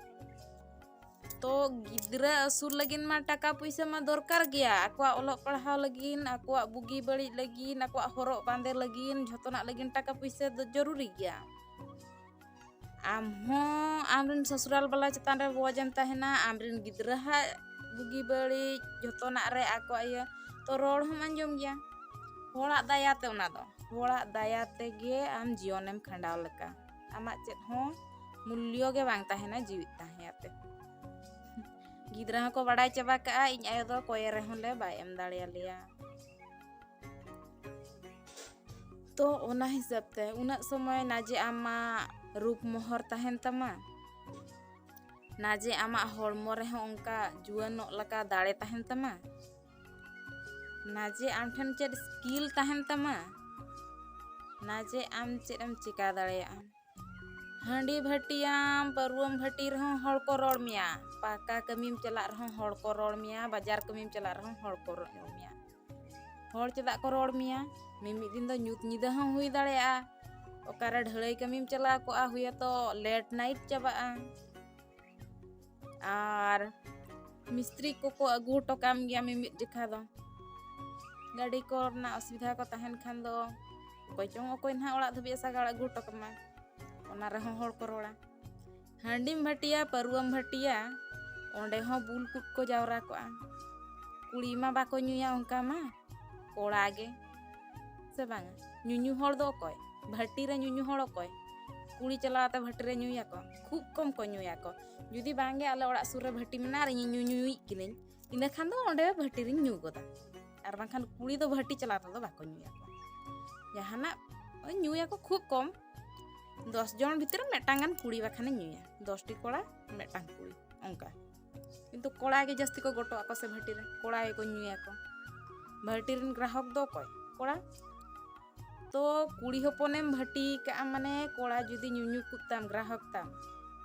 ᱛᱚ ᱜᱤᱫᱽᱨᱟᱹ ᱟᱹᱥᱩᱞ ᱞᱟᱹᱜᱤᱫ ᱢᱟ ᱴᱟᱠᱟ ᱯᱩᱭᱥᱟᱹ ᱢᱟ ᱫᱚᱨᱠᱟᱨ ᱜᱮᱭᱟ ᱟᱠᱚᱣᱟᱜ ᱚᱞᱚᱜ ᱯᱟᱲᱦᱟᱣ ᱞᱟᱹᱜᱤᱫ ᱟᱠᱚᱣᱟᱜ ᱵᱩᱜᱤ ᱵᱟᱹᱲᱤᱡ ᱞᱟᱹᱜᱤᱫ ᱟᱠᱚᱣᱟᱜ ᱦᱚᱨᱚᱜ ᱵᱟᱸᱫᱮ ᱞᱟᱹᱜᱤᱫ ᱡᱷᱚᱛᱚᱱᱟᱜ ᱞᱟᱹᱜᱤᱫ ᱴᱟᱠᱟ ᱯᱩᱭᱥᱟᱹ ᱫᱚ ᱡᱚᱨᱩᱨᱤ ᱜᱮᱭᱟ ᱟᱢ ᱦᱚᱸ ᱟᱢᱨᱮᱱ ᱥᱚᱥᱩᱨᱟᱞ ᱵᱟᱞᱟ ᱪᱮᱛᱟᱱ ᱨᱮ ᱵᱚᱡᱽ ᱮᱢ ᱛᱟᱦᱮᱱᱟ ᱟᱢᱨᱮᱱ ᱜᱤᱫᱽᱨᱟᱹ ᱦᱟᱜ ᱵᱩᱜᱤ ᱵᱟᱹᱲᱤᱡ ᱡᱚᱛᱚᱱᱟᱜ ᱨᱮ ᱟᱠᱚᱣᱟᱜ ᱤᱭᱟᱹ ᱛᱚ ᱨᱚᱲ ᱦᱚᱸᱢ ᱟᱸᱡᱚᱢ ᱜᱮᱭᱟ ᱦᱚᱲᱟᱜ ᱫᱟᱭᱟ ᱛᱮ ᱚᱱᱟ ᱫᱚ ᱦᱚᱲᱟᱜ ᱫᱟᱭᱟ ᱛᱮᱜᱮ ᱟᱢ ᱡᱤᱭᱚᱱᱮᱢ ᱠᱷᱟᱸᱰᱟᱣ ᱞᱮᱠᱟ ᱟᱢᱟᱜ ᱪᱮᱫ ᱦᱚᱸ ᱢᱩᱞᱭᱚ ᱜᱮ ᱵᱟᱝ ᱛᱟᱦᱮᱱᱟ ᱡᱤᱣᱤᱫ ᱛᱟᱦᱮᱸᱭᱟᱛᱮ ᱜᱤᱫᱽᱨᱟᱹ ᱦᱚᱸᱠᱚ ᱵᱟᱲᱟᱭ ᱪᱟᱵᱟ ᱠᱟᱜᱼᱟ ᱤᱧ ᱟᱭᱳ ᱫᱚ ᱠᱚᱭᱮ ᱨᱮᱦᱚᱸ ᱞᱮ ᱵᱟᱭ ᱮᱢ ᱫᱟᱲᱮᱭᱟᱞᱮᱭᱟ ᱛᱚ ᱚᱱᱟ ᱦᱤᱥᱟᱹᱵ ᱛᱮ ᱩᱱᱟᱹᱜ ᱥᱚᱢᱚᱭ ᱱᱟᱡᱮ ᱟᱢᱟᱜ ᱨᱩᱯ ᱢᱚᱦᱚᱨ ᱛᱟᱦᱮᱱ ᱛᱟᱢᱟ ᱱᱟᱡᱮ ᱟᱢᱟᱜ ᱦᱚᱲᱢᱚ ᱨᱮᱦᱚᱸ ᱚᱱᱠᱟ ᱡᱩᱣᱟᱹᱱᱚᱜ ᱞᱮᱠᱟ ᱫᱟᱲᱮ ᱛᱟᱦᱮᱱ ᱛᱟᱢᱟ ᱱᱟᱡᱮ ᱟᱢ ᱴᱷᱮᱱ ᱪᱮᱫ ᱥᱠᱤᱞ ᱛᱟᱦᱮᱱ ᱛᱟᱢᱟ ᱱᱟᱡᱮ ᱟᱢ ᱪᱮᱫ ᱮᱢ ᱪᱮᱠᱟ ᱫᱟᱲᱮᱭᱟᱜᱼᱟ ᱦᱟᱺᱰᱤ ᱵᱷᱟᱹᱴᱤᱭᱟᱢ ᱯᱟᱹᱨᱣᱟᱹᱢ ᱵᱷᱟᱹᱴᱤ ᱨᱮᱦᱚᱸ ᱦᱚᱲ ᱠᱚ ᱨᱚᱲ ᱢᱮᱭᱟ ᱯᱟᱠᱟ ᱠᱟᱹᱢᱤᱢ ᱪᱟᱞᱟᱜ ᱨᱮᱦᱚᱸ ᱦᱚᱲ ᱠᱚ ᱨᱚᱲ ᱢᱮᱭᱟ ᱵᱟᱡᱟᱨ ᱠᱟᱹᱢᱤᱢ ᱪᱟᱞᱟᱜ ᱨᱮᱦᱚᱸ ᱦᱚᱲ ᱠᱚ ᱨᱚᱲ ᱢᱮᱭᱟ ᱦᱚᱲ ᱪᱮᱫᱟᱜ ᱠᱚ ᱨᱚᱲ ᱢᱮᱭᱟ ᱢᱤᱢᱤᱫ ᱫᱤᱱ ᱫᱚ ᱧᱩᱛ ᱧᱤᱫᱟᱹ ᱦᱚᱸ ᱦᱩᱭ ᱫᱟᱲᱮᱭᱟᱜᱼᱟ ᱚᱠᱟᱨᱮ ᱰᱷᱟᱹᱞᱟᱹᱭ ᱠᱟᱹᱢᱤᱢ ᱪᱟᱞᱟᱣ ᱠᱚᱜᱼᱟ ᱦᱩᱭᱟᱛᱚ ᱞᱮᱴ ᱱᱟᱭᱤᱴ ᱪᱟᱵᱟᱜᱼᱟ ᱟᱨ ᱢᱤᱥᱛᱨᱤ ᱠᱚᱠᱚ ᱟᱹᱜᱩ ᱦᱚᱴᱚ ᱠᱟᱢ ᱜᱮᱭᱟ ᱢᱤᱢᱤᱫ ᱡᱮᱠᱷᱟ ᱫᱚ ᱜᱟᱹᱰᱤ ᱠᱚ ᱨᱮᱱᱟᱜ ᱚᱥᱩᱵᱤᱫᱷᱟ ᱠᱚ ᱛᱟᱦᱮᱱ ᱠᱷᱟᱱ ᱫᱚ ᱚᱠᱚᱭ ᱪᱚᱝ ᱚᱠᱚᱭ ᱱᱟᱦᱟᱜ ᱚᱲᱟᱜ ᱫᱷᱟᱹᱵᱤᱡ ᱥᱟᱜᱟᱲ ᱟᱹᱜᱩ ᱦᱚᱴᱚ ᱠᱟᱢᱟ ᱚᱱᱟ ᱨᱮᱦᱚᱸ ᱦᱚᱲ ᱠᱚ ᱨᱚᱲᱟ ᱦᱟᱺᱰᱤᱢ ᱵᱷᱟᱹᱴᱤᱭᱟ ᱯᱟᱹᱨᱩᱣᱟᱹᱢ ᱵᱷᱟᱹᱴᱤᱭᱟ ᱚᱸᱰᱮ ᱦᱚᱸ ᱵᱩᱞ ᱠᱚᱠᱚ ᱡᱟᱣᱨᱟ ᱠᱚᱜᱼᱟ ᱠᱩᱲᱤ ᱢᱟ ᱵᱟᱠᱚ ᱧᱩᱭᱟ ᱚᱱᱠᱟ ᱢᱟ ᱠᱚᱲᱟ ᱜᱮ ᱥᱮ ᱵᱟᱝᱟ ᱧᱩᱧᱩ ᱦᱚᱲ ᱫᱚ ᱚᱠᱚᱭ ᱵᱷᱟᱹᱴᱤ ᱨᱮ ᱧᱩᱧᱩ ᱦᱚᱲ ᱚᱠᱚᱭ ᱠᱩᱲᱤ ᱪᱟᱞᱟᱣ ᱠᱟᱛᱮ ᱵᱷᱟᱹᱴᱤ ᱨᱮ ᱧᱩᱭᱟᱠᱚ ᱠᱷᱩᱵ ᱠᱚᱢ ᱠᱚ ᱧᱩᱭᱟᱠᱚ ᱡᱩᱫᱤ ᱵᱟᱝᱜᱮ ᱟᱞᱮ ᱚᱲᱟᱜ ᱥᱩᱨ ᱨᱮ ᱵᱷᱟᱹᱴᱤ ᱢᱮᱱᱟᱜᱼᱟ ᱟᱨ ᱤᱧ ᱧᱩᱧᱩᱭᱤᱡ ᱠᱤᱱᱟᱹᱧ ᱤᱱᱟᱹ ᱠᱷᱟᱱ ᱫᱚ ᱚᱸᱰᱮ ᱵᱷᱟᱹᱴᱤ ᱨᱤᱧ ᱧᱩ ᱜᱚᱫᱟ ᱟᱨ ᱵᱟᱝᱠᱷᱟᱱ ᱠᱩᱲᱤ ᱫᱚ ᱵᱷᱟᱹᱴᱤ ᱪᱟᱞᱟᱣ ᱛᱮᱫᱚ ᱵᱟᱠᱚ ᱧᱩᱭᱟᱠᱚ ᱡᱟᱦᱟᱱᱟᱜ ᱧᱩᱭᱟᱠᱚ ᱠᱷᱩᱵ ᱠᱚᱢ ᱫᱚᱥ ᱡᱚᱱ ᱵᱷᱤᱛᱨᱤ ᱢᱤᱫᱴᱟᱝ ᱜᱟᱱ ᱠᱩᱲᱤ ᱵᱟᱠᱷᱟᱱᱮ ᱧᱩᱭᱟ ᱫᱚᱥᱴᱤ ᱠᱚᱲᱟ ᱢᱤᱫᱴᱟᱝ ᱠᱩᱲᱤ ᱚᱱᱠᱟ ᱠᱤᱱᱛᱩ ᱠᱚᱲᱟ ᱜᱮ ᱡᱟᱹᱥᱛᱤ ᱠᱚ ᱜᱚᱴᱚ ᱟᱠᱚ ᱥᱮ ᱵᱷᱟᱹᱴᱤ ᱨᱮ ᱠᱚᱲᱟ ᱜᱮᱠᱚ ᱧᱩᱭᱟᱠᱚ ᱵᱷᱟᱹᱴᱤ ᱨᱮᱱ ᱜᱨᱟᱦᱚᱠ ᱫᱚ ᱚᱠᱚᱭ ᱠᱚᱲᱟ ᱛᱚ ᱠᱩᱲᱤ ᱦᱚᱯᱚᱱᱮᱢ ᱵᱷᱟᱹᱴᱤ ᱠᱟᱜᱼᱟ ᱢᱟᱱᱮ ᱠᱚᱲᱟ ᱡᱩᱫᱤ ᱧᱩᱧᱩ ᱠᱚ ᱛᱟᱢ ᱜᱨᱟᱦᱚᱠ ᱛᱟᱢ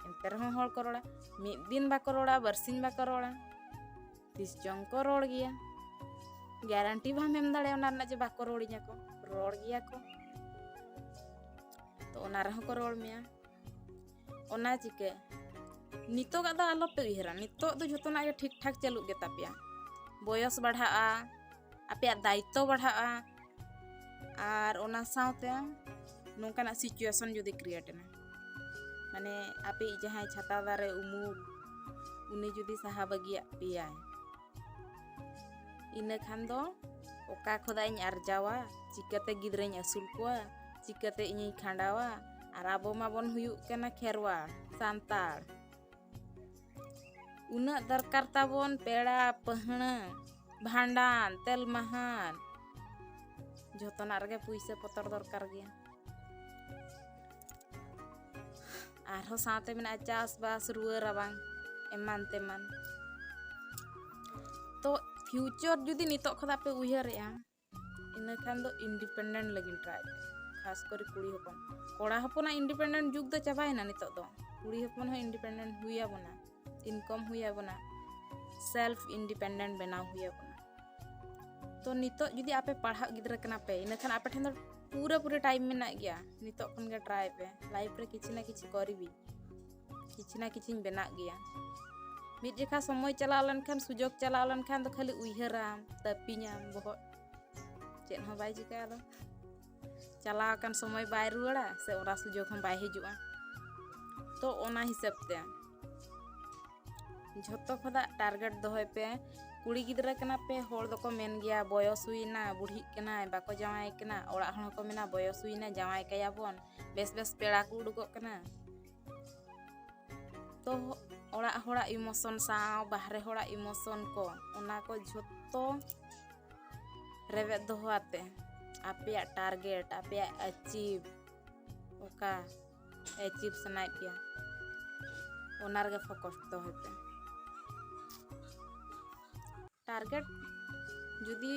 ᱮᱱᱛᱮ ᱨᱮᱦᱚᱸ ᱦᱚᱲ ᱠᱚ ᱨᱚᱲᱟ ᱢᱤᱫ ᱫᱤᱱ ᱵᱟᱠᱚ ᱨᱚᱲᱟ ᱵᱟᱨᱥᱤᱧ ᱵᱟᱠᱚ ᱨᱚᱲᱟ ᱛᱤᱥ ᱪᱚᱝ ᱠᱚ ᱨᱚᱲ ᱜᱮᱭᱟ ᱜᱮᱨᱟᱱᱴᱤ ᱵᱟᱢ ᱮᱢ ᱫᱟᱲᱮᱭᱟᱜᱼᱟ ᱚᱱᱟ ᱨᱮᱱᱟᱜ ᱡᱮ ᱵᱟᱠᱚ ᱨᱚᱲᱤᱧᱟ ᱠᱚ ᱨᱚᱲ ᱜᱮᱭᱟ ᱠᱚ ᱛᱚ ᱚᱱᱟ ᱨᱮᱦᱚᱸ ᱠᱚ ᱨᱚᱲ ᱢᱮᱭᱟ ᱚᱱᱟ ᱪᱤᱠᱟᱹ ᱱᱤᱛᱚᱜᱟᱜ ᱫᱚ ᱟᱞᱚᱯᱮ ᱩᱭᱦᱟᱹᱨᱟ ᱱᱤᱛᱚᱜ ᱫᱚ ᱡᱷᱚᱛᱚᱱᱟᱜ ᱜᱮ ᱴᱷᱤᱠ ᱴᱷᱟᱠ ᱪᱟᱹᱞᱩᱜ ᱜᱮᱛᱟ ᱯᱮᱭᱟ ᱵᱚᱭᱚᱥ ᱵᱟᱲᱦᱟᱜᱼᱟ ᱟᱯᱮᱭᱟᱜ ᱫᱟᱭᱤᱛᱛᱚ ᱵᱟᱲᱦᱟᱜᱼᱟ ᱟᱨ ᱚᱱᱟ ᱥᱟᱶᱛᱮ ᱱᱚᱝᱠᱟᱱᱟᱜ ᱥᱤᱪᱩᱭᱮᱥᱚᱱ ᱡᱩᱫᱤ ᱠᱨᱤᱭᱮᱴ ᱮᱱᱟ ᱢᱟᱱᱮ ᱟᱯᱮᱭᱤᱡ ᱡᱟᱦᱟᱸᱭ ᱪᱷᱟᱛᱟ ᱫᱟᱨᱮ ᱩᱢᱩᱞ ᱩᱱᱤ ᱡᱩᱫᱤ ᱥᱟᱦᱟ ᱵᱟᱹᱜᱤᱭᱟᱜ ᱯᱮᱭᱟᱭ ᱤᱱᱟᱹ ᱠᱷᱟᱱ ᱫᱚ ᱚᱠᱟ ᱠᱷᱚᱱᱟᱜ ᱤᱧ ᱟᱨᱡᱟᱣᱟ ᱪᱤᱠᱟᱹᱛᱮ ᱜᱤᱫᱽᱨᱟᱹᱧ ᱟᱹᱥᱩᱞ ᱠᱚᱣᱟ ᱪᱤᱠᱟᱹᱛᱮ ᱤᱧᱤᱧ ᱠᱷᱟᱸᱰᱟᱣᱟ ᱟᱨ ᱟᱵᱚ ᱢᱟᱵᱚᱱ ᱦᱩᱭᱩᱜ ᱠᱟᱱᱟ ᱠᱷᱮᱨᱣᱟ ᱥᱟᱱᱛᱟᱲ ᱩᱱᱟᱹᱜ ᱫᱚᱨᱠᱟᱨ ᱛᱟᱵᱚᱱ ᱯᱮᱲᱟ ᱯᱟᱹᱦᱬᱟᱹ ᱵᱷᱟᱸᱰᱟᱱ ᱛᱮᱞ ᱢᱟᱦᱟᱱ ᱡᱚᱛᱚᱱᱟᱜ ᱨᱮᱜᱮ ᱯᱩᱭᱥᱟᱹ ᱯᱚᱛᱚᱨ ᱫᱚᱨᱠᱟᱨ ᱜᱮᱭᱟ ᱟᱨᱦᱚᱸ ᱥᱟᱶᱛᱮ ᱢᱮᱱᱟᱜᱼᱟ ᱪᱟᱥᱵᱟᱥ ᱨᱩᱣᱟᱹ ᱨᱟᱵᱟᱝ ᱮᱢᱟᱱ ᱛᱮᱢᱟᱱ ᱛᱚ ᱯᱷᱤᱭᱩᱪᱚᱨ ᱡᱩᱫᱤ ᱱᱤᱛᱚᱜ ᱠᱷᱚᱱᱟᱜ ᱯᱮ ᱩᱭᱦᱟᱹᱨᱮᱜᱼᱟ ᱤᱱᱟᱹ ᱠᱷᱟᱱ ᱫᱚ ᱤᱱᱰᱤᱯᱮᱱᱰᱮᱱᱴ ᱞᱟᱹᱜᱤᱫ ᱴᱨᱟᱭ ᱠᱷᱟᱥ ᱠᱚᱨᱮ ᱠᱩᱲᱤ ᱦᱚᱯᱚᱱ ᱠᱚᱲᱟ ᱦᱚᱯᱚᱱᱟᱜ ᱤᱱᱰᱤᱯᱮᱱᱰᱮᱱᱴ ᱡᱩᱜᱽ ᱫᱚ ᱪᱟᱵᱟᱭᱮᱱᱟ ᱱᱤᱛᱚᱜ ᱫᱚ ᱠᱩᱲᱤ ᱦᱚᱯᱚᱱ ᱦᱚᱸ ᱤᱱᱰᱤᱯᱮᱱᱰᱮᱱᱴ ᱦᱩᱭ ᱟᱵᱚᱱᱟ ᱤᱱᱠᱚᱢ ᱦᱩᱭ ᱟᱵᱚᱱᱟ ᱥᱮᱞᱯᱷ ᱤᱱᱰᱤᱯᱮᱱᱰᱮᱱᱴ ᱵᱮᱱᱟᱣ ᱦᱩᱭ ᱟᱵᱚᱱᱟ ᱛᱚ ᱱᱤᱛᱚᱜ ᱡᱩᱫᱤ ᱟᱯᱮ ᱯᱟᱲᱦᱟᱜ ᱜᱤᱫᱽᱨᱟᱹ ᱠᱟᱱᱟ ᱯᱮ ᱤᱱᱟᱹ ᱠᱷᱟᱱ ᱟᱯᱮ ᱴᱷᱮᱱ ᱫᱚ ᱯᱩᱨᱟᱹ ᱯᱩᱨᱟᱹ ᱴᱟᱭᱤᱢ ᱢᱮᱱᱟᱜ ᱜᱮᱭᱟ ᱱᱤᱛᱚᱜ ᱠᱷᱚᱱ ᱜᱮ ᱴᱨᱟᱭ ᱯᱮ ᱞᱟᱭᱤᱯᱷ ᱨᱮ ᱠᱤᱪᱷᱩ ᱱᱟ ᱠᱤᱪᱷᱩ ᱠᱚᱨᱤᱵᱤ ᱠᱤᱪᱷᱩ ᱱᱟ ᱠᱤᱪᱷᱩᱧ ᱵᱮᱱᱟᱜ ᱜᱮᱭᱟ ᱢᱤᱫ ᱡᱮᱠᱷᱟ ᱥᱚᱢᱚᱭ ᱪᱟᱞᱟᱣ ᱞᱮᱱᱠᱷᱟᱱ ᱥᱩᱡᱳᱜᱽ ᱪᱟᱞᱟᱣ ᱞᱮᱱᱠᱷᱟᱱ ᱫᱚ ᱠᱷᱟᱹᱞᱤ ᱩᱭᱦᱟᱹᱨᱟᱢ ᱛᱟᱹᱯᱤᱧᱟᱢ ᱵᱚᱦᱚᱜ ᱪᱮᱫ ᱦᱚᱸ ᱵᱟᱭ ᱪᱤᱠᱟᱹᱜᱼᱟ ᱟᱫᱚ ᱪᱟᱞᱟᱣ ᱟᱠᱟᱱ ᱥᱚᱢᱚᱭ ᱵᱟᱭ ᱨᱩᱣᱟᱹᱲᱟ ᱥᱮ ᱚᱱᱟ ᱥᱩᱡᱳᱜᱽ ᱦᱚᱸ ᱵᱟᱭ ᱦᱤᱡᱩᱜᱼᱟ ᱛᱚ ᱚᱱᱟ ᱦᱤᱥᱟᱹᱵ ᱛᱮ ᱡᱷᱚᱛᱚ ᱠᱷᱚᱱᱟᱜ ᱴᱟᱨᱜᱮᱴ ᱫᱚᱦᱚᱭ ᱯᱮ ᱠᱩᱲᱤ ᱜᱤᱫᱽᱨᱟᱹ ᱠᱟᱱᱟ ᱯᱮ ᱦᱚᱲ ᱫᱚᱠᱚ ᱢᱮᱱ ᱜᱮᱭᱟ ᱵᱚᱭᱚᱥ ᱦᱩᱭᱱᱟ ᱵᱩᱲᱦᱤᱜ ᱠᱟᱱᱟᱭ ᱵᱟᱠᱚ ᱡᱟᱶᱟᱭ ᱠᱟᱱᱟ ᱚᱲᱟᱜ ᱦᱚᱲ ᱦᱚᱸᱠᱚ ᱢᱮᱱᱟ ᱵᱚᱭᱚᱥ ᱦᱩᱭᱱᱟ ᱡᱟᱶᱟᱭ ᱠᱟᱭᱟᱵᱚᱱ ᱵᱮᱥ ᱵᱮᱥ ᱯᱮᱲᱟ ᱠᱚ ᱩᱰᱩᱠᱚᱜ ᱠᱟᱱᱟ ᱛᱚ ᱚᱲᱟᱜ ᱦᱚᱲᱟᱜ ᱤᱢᱳᱥᱚᱱ ᱥᱟᱶ ᱵᱟᱦᱨᱮ ᱦᱚᱲᱟᱜ ᱤᱢᱳᱥᱚᱱ ᱠᱚ ᱚᱱᱟ ᱠᱚ ᱡᱷᱚᱛᱚ ᱨᱮᱵᱮᱫ ᱫᱚᱦᱚ ᱟᱛᱮ ᱟᱯᱮᱭᱟᱜ ᱴᱟᱨᱜᱮᱴ ᱟᱯᱮᱭᱟᱜ ᱮᱪᱤᱵᱷ ᱚᱠᱟ ᱮᱪᱤᱵᱷ ᱥᱟᱱᱟᱭᱮᱫ ᱯᱮᱭᱟ ᱚᱱᱟ ᱨᱮᱜᱮ ᱯᱷᱳᱠᱚᱥ ᱫᱚᱦᱚᱭ ᱯᱮ ᱴᱟᱨᱜᱮᱴ ᱡᱩᱫᱤ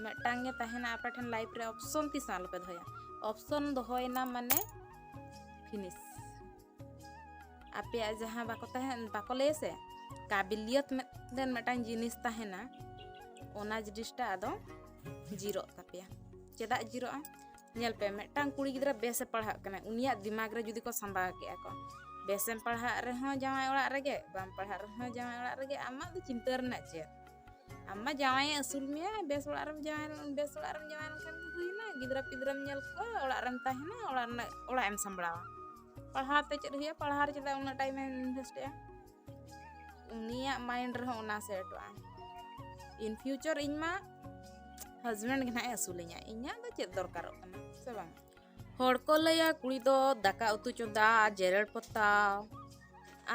ᱢᱤᱫᱴᱟᱝ ᱜᱮ ᱛᱟᱦᱮᱱᱟ ᱟᱯᱮ ᱴᱷᱮᱱ ᱞᱟᱭᱤᱯᱷ ᱨᱮ ᱚᱯᱥᱚᱱ ᱛᱤᱥ ᱦᱚᱸ ᱟᱞᱚᱯᱮ ᱫᱚᱦᱚᱭᱟ ᱚᱯᱥᱚᱱ ᱫᱚᱦᱚᱭᱮᱱᱟ ᱢᱟᱱᱮ ᱯᱷᱤᱱᱤᱥ ᱟᱯᱮᱭᱟᱜ ᱡᱟᱦᱟᱸ ᱵᱟᱠᱚ ᱛᱟᱦᱮᱱ ᱵᱟᱠᱚ ᱞᱟᱹᱭᱟ ᱥᱮ ᱠᱟᱵᱤᱞᱤᱭᱚᱛ ᱢᱤᱫᱴᱮᱱ ᱢᱤᱫᱴᱟᱝ ᱡᱤᱱᱤᱥ ᱛᱟᱦᱮᱱᱟ ᱚᱱᱟ ᱡᱤᱱᱤᱥᱴᱟ ᱟᱫᱚ ᱡᱤᱨᱚᱜ ᱛᱟᱯᱮᱭᱟ ᱪᱮᱫᱟᱜ ᱡᱤᱨᱚᱜᱼᱟ ᱧᱮᱞ ᱯᱮ ᱢᱤᱫᱴᱟᱝ ᱠᱩᱲᱤ ᱜᱤᱫᱽᱨᱟᱹ ᱵᱮᱥᱮ ᱯᱟᱲᱦᱟᱜ ᱠᱟᱱᱟ ᱩᱱᱤᱭᱟᱜ ᱫᱤᱢᱟᱜᱽ ᱨᱮ ᱡᱩᱫᱤ ᱠᱚ ᱥᱟᱢᱵᱟᱣ ᱠᱮᱜᱼᱟ ᱠᱚ ᱵᱮᱥᱮᱢ ᱯᱟᱲᱦᱟᱜ ᱨᱮᱦᱚᱸ ᱡᱟᱶᱟᱭ ᱚᱲᱟᱜ ᱨᱮᱜᱮ ᱵᱟᱢ ᱯᱟᱲᱦᱟᱜ ᱨᱮᱦᱚᱸ ᱡᱟᱶᱟᱭ ᱚᱲᱟᱜ ᱨᱮᱜᱮ ᱟᱢᱟᱜ ᱫᱚ ᱪᱤᱱᱛᱟᱹ ᱨᱮᱱᱟᱜ ᱪᱮᱫ ᱟᱢ ᱢᱟ ᱡᱟᱶᱟᱭᱮ ᱟᱹᱥᱩᱞ ᱢᱮᱭᱟ ᱵᱮᱥ ᱚᱲᱟᱜ ᱨᱮᱢ ᱡᱟᱶᱟᱭ ᱵᱮᱥ ᱚᱲᱟᱜ ᱨᱮᱢ ᱡᱟᱶᱟᱭ ᱞᱮᱱᱠᱷᱟᱱ ᱜᱮ ᱦᱩᱭᱱᱟ ᱜᱤᱫᱽᱨᱟᱹ ᱯᱤᱫᱽᱨᱟᱹᱢ ᱧᱮᱞ ᱠᱚᱣᱟ ᱚᱲᱟᱜ ᱨᱮᱢ ᱛᱟᱦᱮᱱᱟ ᱚᱲᱟᱜ ᱨᱮᱱᱟᱜ ᱚᱲᱟᱜ ᱮᱢ ᱥᱟᱢᱵᱲᱟᱣᱟ ᱯᱟᱲᱦᱟᱣ ᱛᱮ ᱪᱮᱫ ᱦᱩᱭᱩᱜᱼᱟ ᱯᱟᱲᱦᱟᱣ ᱨᱮ ᱪᱮᱫᱟᱜ ᱩᱱᱟᱹᱜ ᱴᱟᱭᱤᱢ ᱮᱢ ᱤᱱᱵᱷᱮᱥᱴᱮᱜᱼᱟ ᱩᱱᱤᱭᱟᱜ ᱢᱟᱭᱤᱱᱰ ᱨᱮᱦᱚᱸ ᱚᱱᱟ ᱥᱮᱴᱚᱜᱼᱟ ᱤᱱ ᱯᱷᱤᱭᱩᱪᱚᱨ ᱤᱧ ᱢᱟ ᱦᱟᱡᱵᱮᱱᱰ ᱜᱮ ᱱᱟᱦᱟᱜ ᱮ ᱟᱹᱥᱩᱞᱤᱧᱟ ᱤᱧᱟᱹᱜ ᱫᱚ ᱪᱮᱫ ᱫᱚᱨᱠᱟᱨᱚᱜ ᱠᱟᱱᱟ ᱥᱮ ᱵᱟᱝ ᱦᱚᱲ ᱠᱚ ᱞᱟᱹᱭᱟ ᱠᱩᱲᱤ ᱫᱚ ᱫᱟᱠᱟ ᱩᱛᱩ ᱪᱚᱸᱫᱟ ᱡᱮᱨᱮᱲ ᱯᱚᱛᱟᱣ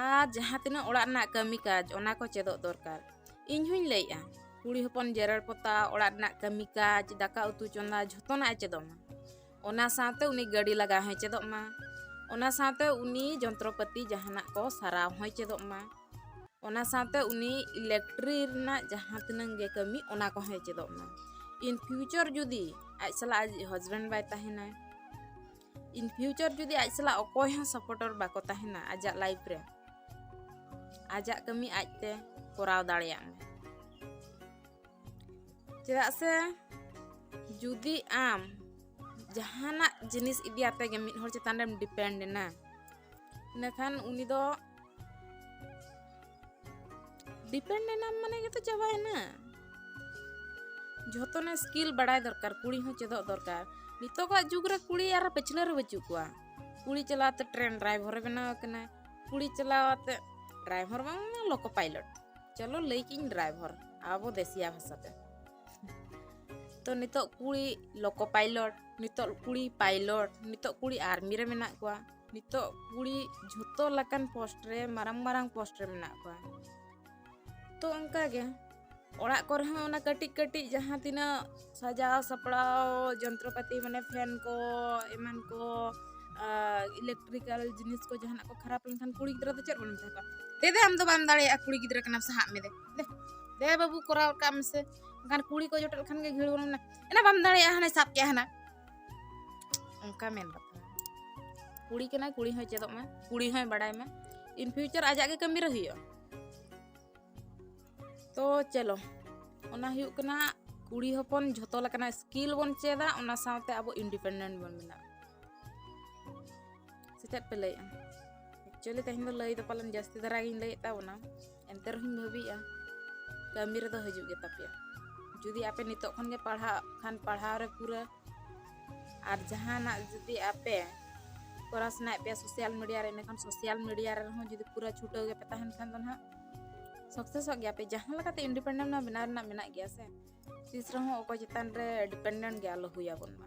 ᱟᱨ ᱡᱟᱦᱟᱸ ᱛᱤᱱᱟᱹᱜ ᱚᱲᱟᱜ ᱨᱮᱱᱟᱜ ᱠᱟᱹᱢᱤ ᱠᱟᱡᱽ ᱚᱱᱟ ᱠᱚ ᱪᱮᱫᱚᱜ ᱫᱚᱨᱠᱟᱨ ᱤᱧ ᱦᱚᱧ ᱞᱟᱹᱭᱮᱜᱼᱟ ᱠᱩᱲᱤ ᱦᱚᱯᱚᱱ ᱡᱮᱨᱮᱲ ᱯᱚᱛᱟᱣ ᱚᱲᱟᱜ ᱨᱮᱱᱟᱜ ᱠᱟᱹᱢᱤ ᱠᱟᱡᱽ ᱫᱟᱠᱟ ᱩᱛᱩ ᱪᱚᱸᱫᱟ ᱡᱷᱚᱛᱚᱱᱟᱜ ᱮ ᱪᱮᱫᱚᱜ ᱢᱟ ᱚᱱᱟ ᱥᱟᱶᱛᱮ ᱩᱱᱤ ᱜᱟᱹᱰᱤ ᱞᱟᱜᱟ ᱦᱚᱸᱭ ᱪᱮᱫᱚᱜ ᱢᱟ ᱚᱱᱟ ᱥᱟᱶᱛᱮ ᱩᱱᱤ ᱡᱚᱱᱛᱨᱚᱯᱟᱹᱛᱤ ᱡᱟᱦᱟᱱᱟᱜ ᱠᱚ ᱥᱟᱨᱟᱣ ᱦᱚᱸᱭ ᱪᱮᱫᱚᱜ ᱢᱟ ᱚᱱᱟ ᱥᱟᱶᱛᱮ ᱩᱱᱤ ᱤᱞᱮᱠᱴᱨᱤ ᱨᱮᱱᱟᱜ ᱡᱟᱦᱟᱸ ᱛᱤᱱᱟᱹᱝ ᱜᱮ ᱠᱟᱹᱢᱤ ᱚᱱᱟ ᱠᱚᱦᱚᱸᱭ ᱪᱮᱫᱚᱜ ᱢᱟ ᱤᱱ ᱯᱷᱤᱭᱩᱪᱚᱨ ᱡᱩᱫᱤ ᱟᱡ ᱥᱟᱞᱟᱜ ᱟᱡ ᱦᱟᱡᱵᱮᱱᱰ ᱵᱟᱭ ᱛᱟᱦᱮᱱᱟ ᱤᱱ ᱯᱷᱤᱭᱩᱪᱚᱨ ᱡᱩᱫᱤ ᱟᱡ ᱥᱟᱞᱟᱜ ᱚᱠᱚᱭ ᱦᱚᱸ ᱥᱟᱯᱚᱨᱴᱚᱨ ᱵᱟᱠᱚ ᱛᱟᱦᱮᱱᱟ ᱟᱡᱟᱜ ᱞᱟᱭᱤᱯᱷ ᱨᱮ ᱟᱡᱟᱜ ᱠᱟᱹᱢᱤ ᱟᱡᱛᱮ ᱠᱚᱨᱟᱣ ᱫᱟᱲᱮᱭᱟᱜ ᱢᱟ ᱪᱮᱫᱟᱜ ᱥᱮ ᱡᱩᱫᱤ ᱟᱢ ᱡᱟᱦᱟᱱᱟᱜ ᱡᱤᱱᱤᱥ ᱤᱫᱤ ᱟᱛᱮᱜᱮ ᱢᱤᱫ ᱦᱚᱲ ᱪᱮᱛᱟᱱ ᱨᱮᱢ ᱰᱤᱯᱮᱱᱰ ᱮᱱᱟ ᱤᱱᱟᱹᱠᱷᱟᱱ ᱩᱱᱤ ᱫᱚ ᱰᱤᱯᱮᱱᱰ ᱮᱱᱟᱢ ᱢᱟᱱᱮ ᱜᱮᱛᱚ ᱪᱟᱵᱟᱭᱮᱱᱟ ᱡᱷᱚᱛᱚᱱᱟᱜ ᱥᱠᱤᱞ ᱵᱟᱲᱟᱭ ᱫᱚᱨᱠᱟᱨ ᱠᱩᱲᱤ ᱦᱚᱸ ᱪᱮᱫᱚᱜ ᱫᱚᱨᱠᱟর ᱱᱤᱛᱚᱜᱟᱜ ᱡᱩᱜᱽ ᱨᱮ ᱠᱩᱲᱤ ᱟᱨ ᱯᱟᱹᱪᱷᱞᱟᱹ ᱨᱮ ᱵᱟᱹᱪᱩᱜ ᱠᱚᱣᱟ ᱠᱩᱲᱤ ᱪᱟᱞᱟᱣᱛᱮ ᱴᱨᱮᱱ ᱰᱨᱟᱭᱵᱷᱚᱨᱮ ᱵᱮᱱᱟᱣ ᱟᱠᱟᱱᱟ ᱠᱩᱲᱤ ᱪᱟᱞᱟᱣᱛᱮ ᱰᱨᱟᱭᱵᱷᱚᱨ ᱵᱟᱝ ᱞᱚᱠᱚ ᱯᱟᱭᱞᱚᱴ ᱪᱚᱞᱚ ᱞᱟᱹᱭ ᱠᱤᱧ ᱰᱨᱟᱭᱵᱷᱚᱨ ᱟᱵᱚ ᱫᱮᱥᱤᱭᱟ ᱵᱷᱟᱥᱟᱛᱮ ᱛᱚ ᱱᱤᱛᱚᱜ ᱠᱩᱲᱤ ᱞᱚᱠᱚ ᱯᱟᱭᱞᱚᱴ ᱱᱤᱛᱚᱜ ᱠᱩᱲᱤ ᱯᱟᱭᱞᱚᱴ ᱱᱤᱛᱚᱜ ᱠᱩᱲᱤ ᱟᱨᱢᱤ ᱨᱮ ᱢᱮᱱᱟᱜ ᱠᱚᱣᱟ ᱱᱤᱛᱚᱜ ᱠᱩᱲᱤ ᱡᱷᱚᱛᱚ ᱞᱮᱠᱟᱱ ᱯᱳᱥᱴ ᱨᱮ ᱢᱟᱨᱟᱝ ᱢᱟᱨᱟᱝ ᱯᱳᱥᱴ ᱨᱮ ᱢᱮᱱᱟᱜ ᱠᱚᱣᱟ ᱛᱚ ᱚᱱᱠᱟ ᱜᱮ ᱚᱲᱟᱜ ᱠᱚᱨᱮ ᱦᱚᱸ ᱚᱱᱟ ᱠᱟᱹᱴᱤᱡ ᱠᱟᱹᱴᱤᱡ ᱡᱟᱦᱟᱸ ᱛᱤᱱᱟᱹᱜ ᱥᱟᱡᱟᱣ ᱥᱟᱯᱲᱟᱣ ᱡᱚᱱᱛᱨᱚᱯᱟᱹᱛᱤ ᱢᱟᱱᱮ ᱯᱷᱮᱱ ᱠᱚ ᱮᱢᱟᱱ ᱠᱚ ᱤᱞᱮᱠᱴᱨᱤᱠᱟᱞ ᱡᱤᱱᱤᱥ ᱠᱚ ᱡᱟᱦᱟᱱᱟᱜ ᱠᱚ ᱠᱷᱟᱨᱟᱯ ᱞᱮᱱᱠᱷᱟᱱ ᱠᱩᱲᱤ ᱜᱤᱫᱽᱨᱟᱹ ᱫᱚ ᱪᱮᱫ ᱵᱚᱱ ᱢᱮᱛᱟ ᱠᱚᱣᱟ ᱫᱮ ᱫᱮ ᱟᱢ ᱫᱚ ᱵᱟᱢ ᱫᱟᱲᱮᱭᱟᱜᱼᱟ ᱠᱩᱲᱤ ᱜᱤᱫᱽᱨᱟᱹ ᱠᱟᱱᱟᱢ ᱥᱟᱦᱟᱜ ᱢᱮ ᱫᱮ ᱫᱮ ᱵᱟᱹᱵᱩ ᱠᱚᱨᱟᱣ ᱠᱟᱜ ᱢᱮᱥᱮ ᱮᱱᱠᱷᱟᱱ ᱠᱩᱲᱤ ᱠᱚ ᱡᱚᱴᱮᱫ ᱞᱮᱠᱷᱟᱱ ᱜᱮ ᱜᱷᱤᱲ ᱵᱚᱱ ᱢᱮᱱᱟ ᱮᱱᱟ ᱵᱟᱢ ᱫᱟᱲᱮᱭᱟᱜᱼᱟ ᱦᱟᱱᱮ ᱥᱟᱵ ᱠᱮᱜᱼᱟ ᱦᱟᱱᱟ ᱚᱱᱠᱟ ᱢᱮᱱ ᱠᱟᱛᱷᱟ ᱠᱩᱲᱤ ᱠᱟᱱᱟᱭ ᱠᱩᱲᱤ ᱦᱚᱸᱭ ᱪᱮᱫᱚᱜ ᱢᱟ ᱠᱩᱲᱤ ᱦᱚᱸᱭ ᱵᱟᱲᱟᱭ ᱢᱟ ᱤᱱ ᱯᱷᱤᱭᱩᱪᱟᱨ ᱟᱡᱟᱜ ᱜᱮ ᱠᱟᱹᱢᱤ ᱨᱮ ᱦᱩᱭᱩᱜᱼᱟ ᱛᱚ ᱪᱮᱞᱚ ᱚᱱᱟ ᱦᱩᱭᱩᱜ ᱠᱟᱱᱟ ᱠᱩᱲᱤ ᱦᱚᱯᱚᱱ ᱡᱷᱚᱛᱚ ᱞᱮᱠᱟᱱᱟᱜ ᱥᱠᱤᱞ ᱵᱚᱱ ᱪᱮᱫᱟ ᱚᱱᱟ ᱥᱟᱶᱛᱮ ᱟᱵᱚ ᱤᱱᱰᱤᱯᱮᱱᱰᱮᱱᱴ ᱵᱚᱱ ᱵᱮᱱᱟᱜᱼᱟ ᱥᱮ ᱪᱮᱫ ᱯᱮ ᱞᱟᱹᱭᱮᱜᱼᱟ ᱮᱠᱪᱩᱭᱮᱞᱤ ᱛᱮᱦᱮᱧ ᱫᱚ ᱞᱟᱹᱭ ᱫᱚ ᱯᱟᱞᱮᱱ ᱡᱟᱹᱥᱛᱤ ᱫᱷᱟᱨᱟ ᱜᱤᱧ ᱞᱟᱹᱭᱮᱫ ᱛᱟᱵᱚᱱᱟ ᱮᱱᱛᱮ ᱨᱮᱦᱚᱸᱧ ᱵᱷᱟᱹᱵᱤᱭᱮᱜᱼᱟ ᱠᱟᱹᱢᱤ ᱨᱮᱫᱚ ᱦᱤᱡᱩᱜ ᱜᱮ ᱛᱟᱯᱮᱭᱟ ᱡᱩᱫᱤ ᱟᱯᱮ ᱱᱤᱛᱚᱜ ᱠᱷᱚᱱ ᱜᱮ ᱯᱟᱲᱦᱟᱜ ᱠᱷᱟᱱ ᱯᱟᱲᱦᱟᱣ ᱨᱮ ᱯᱩᱨᱟᱹ ᱟᱨ ᱡᱟᱦᱟᱱᱟᱜ ᱡᱩᱫᱤ ᱟᱯᱮ ᱠᱚᱨᱟᱣ ᱥᱟᱱᱟᱭᱮᱫ ᱯᱮᱭᱟ ᱥᱳᱥᱟᱞ ᱢᱤᱰᱤᱭᱟ ᱨᱮ ᱮᱸᱰᱮᱠᱷᱟᱱ ᱥᱳᱥᱟᱞ ᱢᱤᱰᱤᱭᱟ ᱨᱮᱦᱚᱸ ᱡᱩᱫᱤ ᱯᱩᱨᱟᱹ ᱪᱷᱩᱴᱟᱹᱣ ᱜᱮᱯᱮ ᱛᱟᱦᱮᱱ ᱠᱷᱟᱱ ᱫᱚ ᱱᱟᱦᱟᱜ ᱥᱚᱠᱥᱮᱥᱚᱜ ᱜᱮᱭᱟ ᱯᱮ ᱡᱟᱦᱟᱸ ᱞᱮᱠᱟᱛᱮ ᱤᱱᱰᱤᱯᱮᱱᱰᱮᱱᱴ ᱢᱟ ᱵᱮᱱᱟᱣ ᱨᱮᱱᱟᱜ ᱢᱮᱱᱟᱜ ᱜᱮᱭᱟ ᱥᱮ ᱛᱤᱥ ᱨᱮᱦᱚᱸ ᱚᱠᱚᱭ ᱪᱮᱛᱟᱱ ᱨᱮ ᱰᱤᱯᱮᱱᱰᱮᱱᱴ ᱜᱮ ᱟᱞᱚ ᱦᱩᱭᱟᱵᱚᱱ ᱢᱟ